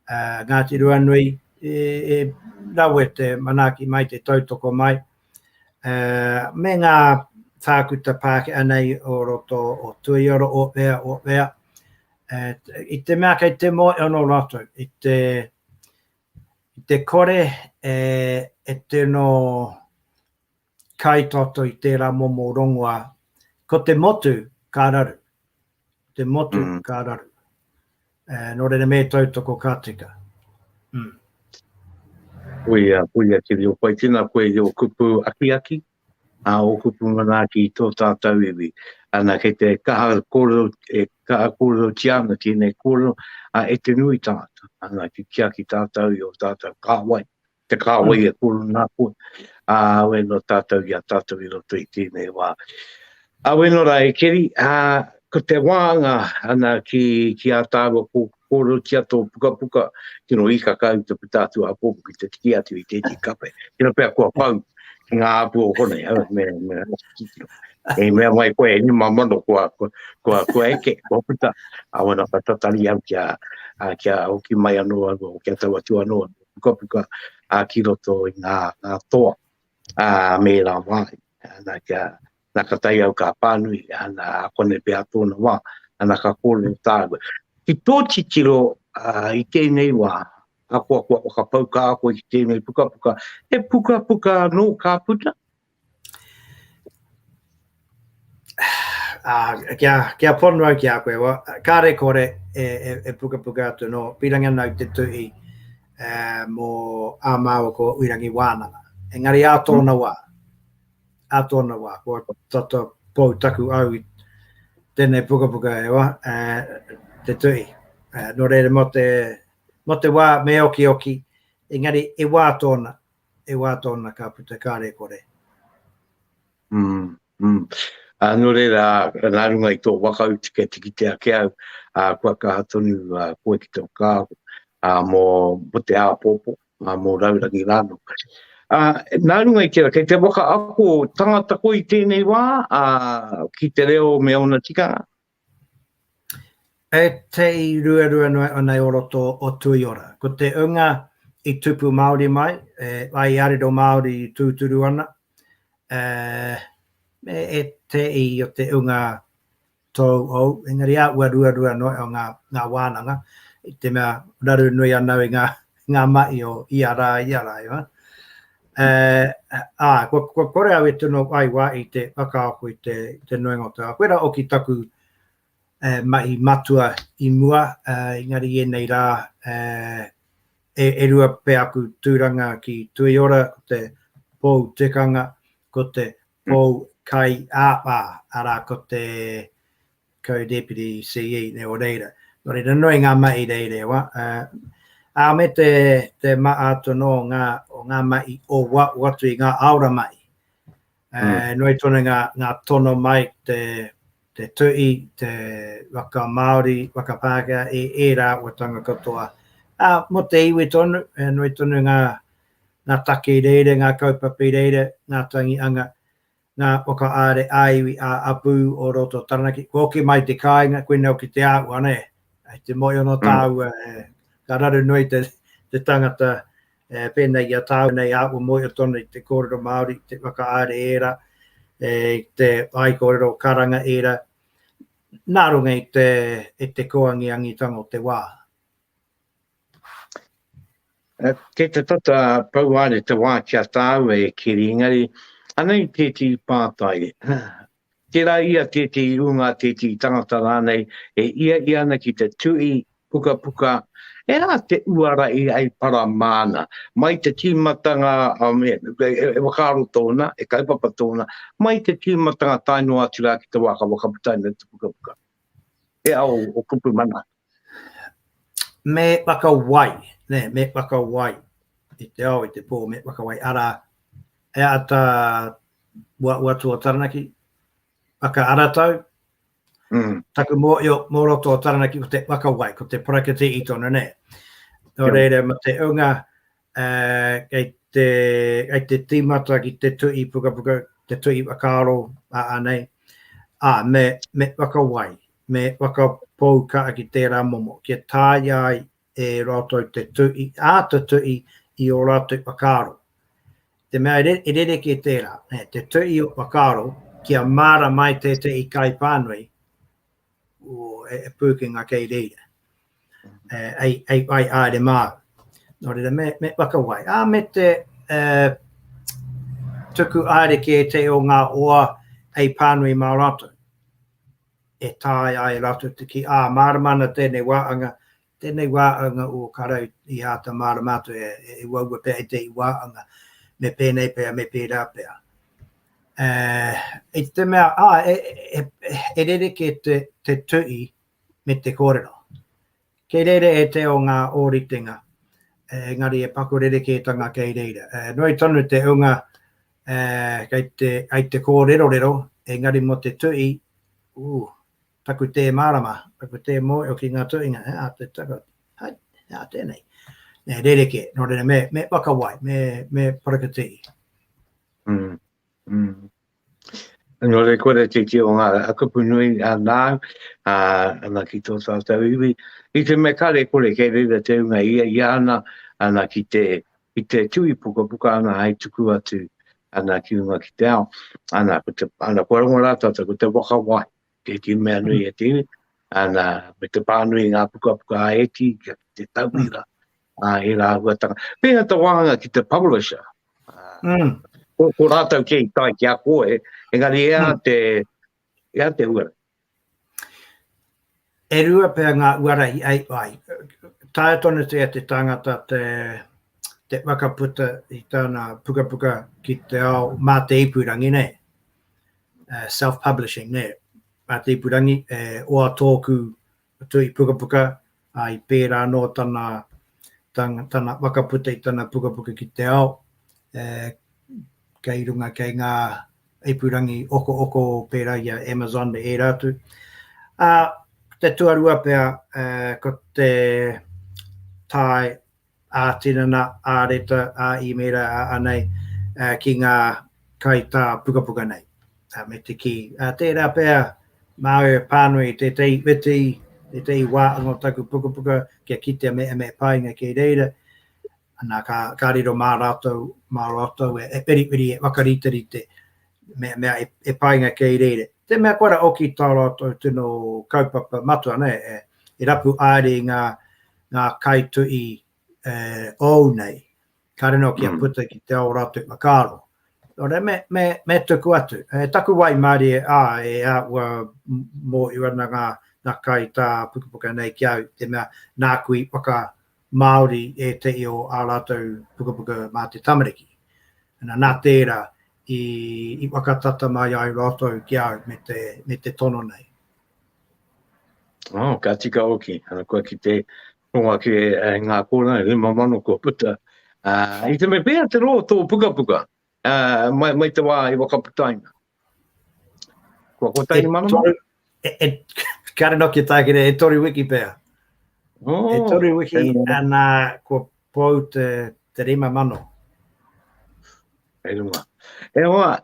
a Ngāti Ruanui, e, e rawe te manaaki mai, te tautoko mai, a, me ngā tākuta Pākehā nei o roto o Tuioro, o whea, o whea, a, i te mea kei te moe anō rātou, i te, i te kore e, e tino kai toto i tērā momo rongoā, ko te motu ka raru, te motu mm. ka raru. E, nō reira me tautoko ka tika. Mm. Ui a pui a kiri o pai tina koe i o kupu aki aki, a o kupu mana aki i tō tātou iwi. Ana kei te kaha kōrero, e kaha kōrero ti ana ki nei kōrero, a e te nui tātou. Ana ki kia ki tātou i o tātou kāwai, Te kāwai e koro nā koe. Ā, awe nō tātou i a tātou i roto i tēnei wā. Awe nō rā e Keri, ā, ko te wānga ana ki, ki a tāua ko, kōrotia tō pukapuka, tino ikaka au te puta atu a pōpu ki te tiki atu i tēti kape. Tino pia kua pau ki ngā apu o konei, au, me, me, e mea mai koe, e nima mano kua, kua, kua, kua eke, kua puta, a wana ka tatari au kia, a, kia hoki mai anō au, o kia tau atu anō au. pukapuka ki roto i ngā toa me ērā wāhi. Nā kia, nā ka tae au ka pānui, nā konei pea tōna wā, nā ka kōrero tāua. Ki tō titiro i tēnei wā, akoa kua whakapau kāhore ki tēnei pukapuka, he pukapuka anō ka puta, Ah, kia, kia ponu au ki a koe, wa, kāre kore e, e, e pukapuka atu no, pīrangi ana au te tuhi uh, mō ā māua ko Uirangi Wānanga. Engari ā tōna wā, ā tōna wā, kua tata pou taku au i tēnei pukapuka e wa, uh, te tuhi. Uh, no reira, mō te, mō te wā me oki oki, engari e wā tōna, e wā tōna ka puta kāre kore. Nō reira, nā runga i tō whakau tika tikiti ake au, kua kaha tonu koe ki tō kāho mō te āpōpō, mō raurangi rānō. Nā runga i tērā, kei te whakaako tangata koe i tēnei wā ki te reo me ōna tikanga, E tei ruarua noa ana i roto o Tuiora. Ko te unga i tupu Māori mai, ai a riro Māori i tūturu ana, me e tei o te unga tōu ou, engari āhua ruarua noa ngā wānanga, i te mea raru nui anau i ngā ngā mahi o ia rā, ia rā, ia rā. Ā, kua kore au e tino whai wā i te whakaako i te nuinga o te wā. Koirā hoki taku mahi matua i mua, engari i ēnei rā e rua pea aku tūranga ki Tuiora, ko te Pou Tikanga, ko te Paul Kai Aapa, arā ko te Co-Deputy CE nei o reira. Nō reira, nui ngā mahi reirewa, ā, me te maha atu anō o ngā mahi o atu i ngā aora mahi. Nui tonu ngā tono mai, te tuhi, te whakamāori, whakapākehā e ērā āhuatanga katoa. Ā, mō te iwi tonu, nui tonu ngā ngā take i reira, ngā kaupapa i reira, ngā tangi anga, ngā whakaāre ā-iwi, ā-apū o roto Taranaki. Kua hoki mai te kāinga, koinei hoki te āhua, nē, hei te moe anō tāua, ka raru noa i te tangata pēnei i a tāua nei āhua moe o tonu i te kōrero Māori, te whakaāre ērā, te whaikōrero karanga ērā, nā runga i te kōangīangītanga o te wā. Kei te tata pou are te wā ki a tāua e Keri, engari, anei tētehi pātai, tērā i a tētehi ūnga, tētehi tangata rānei, e ia ia ana ki te tūī pukapuka, e rā te uara i ai para māna, mai te tīmatanga, e whakaaro tōna, e kaupapa tōna, mai te tīmatanga tae noa atu rā ki te wā ka whakaputaina te pukapuka. He ao o kupu mana atu. Me whakawai, nē, me whakawai i te ao, i te pō, me whakawai, arā, he ata uauatu o Taranaki, whakaaratau, mm. taku mōio mō roto o Taranaki ko te whakawai, ko te parakete i tonu, nē. Nō reira, ma te unga, kei te, kei te tīmata ki te tuhi pukapuka, te tuhi whakaaro anei, ā, me, me whakawai, me whakapou kaha ki tērā momo, kia tāia ai e rātou te tuhi, āta tuhi i ō rātou whakaaro. Te mea e rerekē tērā, te tuhi o whakaaro, kia mārama ai tētehi kaipānui, e pūkenga kei reira, ei whai haere māu. Nō reira, me whakawai. Ā, me te tuku haere ki ētehi o ngā hoa hei pānui mā rātou, e taea ai rātou te kī, ā, mārama ana tēnei wāhanga Tēnei wāanga o Karau i āta mārama atu e uaua pea e te wāanga, me pēnei pea, me pērā pea. I te mea, e rerekē te tuhi me te kōrero. Kei reira e te ao ngā ōritenga, engari e paku rerekētanga kei reira. Nui tonu te hunga kei te kōrerorero, engari mō te tuhi, ū, taku tē mārama, taku tē mōhio ki ngā tuhinga, he aha te taka, hai, he aha tēnei? Nē, rerekē, nō reira me, me whakawai, me, me parakatiri. Mm. Mm. Nō reira kore te tio ngā kupu nui a nāu, a, ana ki tō tātou iwi, i te me kare kore kei reira te unga ia, ia ana, ana ki te, ki te tui puka puka ana hai tuku atu, ana ki unga ki te ao, ana, ko te, ana, kua rongo rātata, ko te whakawai, Tēti mea nui e te iwi, ana, me te pānui ngā pukapuka a Eti, kia te tauira, a e rā huatanga. Pēnā te wāhanga ki te publisher, mm. ko, ko rātou kei tai ki a koe, engari ea mm. te, ea te uara. E rua pēr ngā uara i ai, ai. Taia tonu te te tangata te, te wakaputa i tāna pukapuka ki te ao mā te ipurangi nei. uh, self-publishing, ne, a te ipurangi, e oa tōku tui pukapuka, a i pērā anō tana, tana, tana wakaputa i tana pukapuka ki te ao, e, kei runga kei ngā ipurangi oko oko pērā i a Amazon me ērā atu. A, te tuarua pea, e, ko te tai ā-tinana, ā-reta, ā-īmēra, ā-anei ki ngā kaitā pukapuka nei. Me te kī, tērā pea māu e pānui i tētehi whiti, tētehi wāhanga o taku pukapuka kia kitea me ēnei painga kei reira, ana ka riro mā rātou, mā rātou e whiriwhiri, e whakariterite me mea e painga kei reira. Te mea kua ra oki tā rātou tino kaupapa matua nei e rapu aere i ngā ngā kaituhi e ou nei, kāre anō kia puta ki te ō rātou whakaaro. Nō reira, me, me, me tuku atu. E taku waimarie, ā, e ā, ua mōhio ana ngā, ngā kai tā Pukapuka nei ki au, te mea, nāku i whaka Māori ētehi o ā rātou pukapuka mā te tamariki. Nā, nā tērā, i, i whakatata mai ai rātou ki au me te, me te tono nei. Oh, ka tika hoki. Uh, kua ki te ronga ki e, e ngā kōrā, e rima mano kua puta. Uh, I te me pēa te rō tō puka puka, uh, mai, mai te wā i wakaputaina. Kua ko taini mana mā? E, e, kāre no ki tākere, e tori wiki pēa. Oh, e tori wiki, anā, kua pōu te, te rima mano. E runga. E hoa,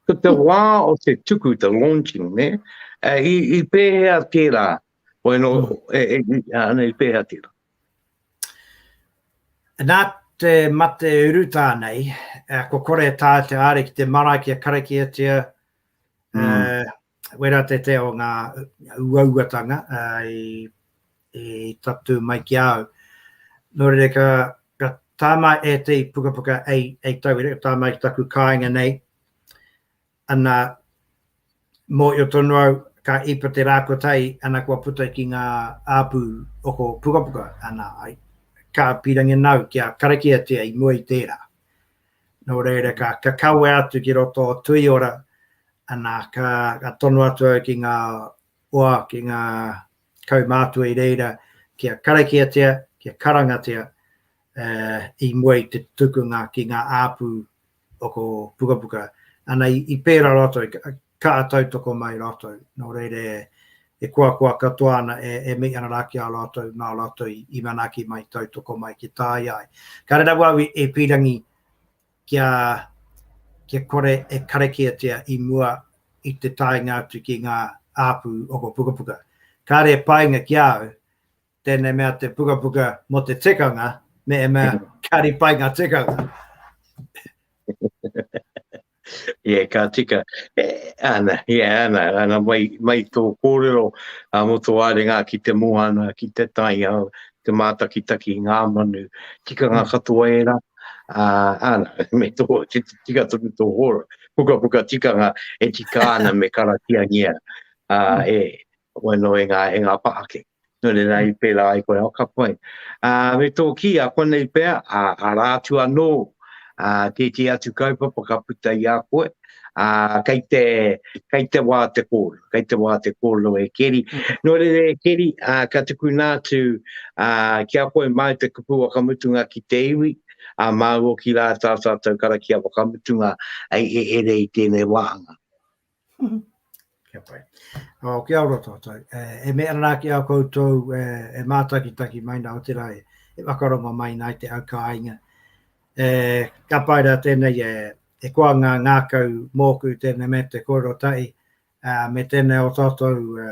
Ko te wā o te tuku, the launching, ne? I, i pēhea tērā? Wai no, mm. e, e, ana, i pēhea tērā? Nā te mate uru tānei, uh, ko kore tā te āre ki te marae kia karakiatia, mm. uh, wera te te o ngā uauatanga i tatū mai ki a au. Nō reira ka tā mai e te pukapuka hei tauira, ka tā mai ki taku kāinga nei, ana mōhio tonu au ka ipa te rākotai ana kua puta ki ngā āpū oko pukapuka, ana ai ka pīrangi nāu kia karakiatia i mua i tērā. Nō reira, ka, ka kawe atu ki roto o Tuiora, ana, ka, ka tono atu au ki ngā hoa, ki ngā kaumātua i reira, kia karakiatia, kia karangatia uh, i mua i te tukunga ki ngā āpū o ko pukapuka. Ana, i, i pērā rātou, Ka tautoko mai rātou, nō reira e koakoa katoa ana, e mei ana rā ki a rātou, nā rātou i manaaki mai, tautoko mai ki tāia ai. Ka rere rawa au e pīrangi kia kore e karakiatia i mua i te taenga atu ki ngā āpū o ngō pukapuka. Kāre e painga ki a au tēnei mea te pukapuka mō te tikanga, mehemea ka ripai ngā tikanga. Yeah, ka tika. E, ana, yeah, ana, ana, mai, mai tō kōrero a mo tō arenga ki te moana, ki te taiao, te mātakitaki, ngā manu, tika ngā katoa e rā. Uh, ana, me tō, tika tonu tō hōra, puka puka tikanga e tika ana me karakiangia uh, e, wano e ngā, e ngā pahake. Nō reira, i pērā ai koe, ka pai. Me tō kī, a konei pea, arā atu anō tētehi atu kaupapa ka puta i a koe, kei te, kei te wā te kōrero, kei te wā te kōrero e Keri. Nō reira e Keri, ka tukuna atu ki a koe, māu te kupu whakamutunga ki te iwi, māu hoki rā tā tātou karakia whakamutunga e rere i tēnei wāhanga. Kia pai. Oh, kia ora tātou. Eh, e mea rā ki a koutou e, e mātakitaki mai nā te rā e, e whakarongo mai nā te au kāinga. E, ka pai rā tēnei e, e koa ngā ngākau mōku tēnei me te korotai, a, me tēnei o tātou e,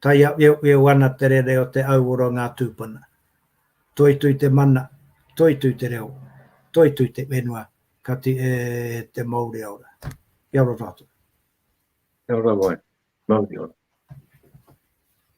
Taiaweaweo ana te rere o te auora o ngā tūpuna. Toitui te mana, toitui te reo, toitui te whenua, kati e te Mauri aora. Kia ora tātou. Kia ora wai. Mauri ora.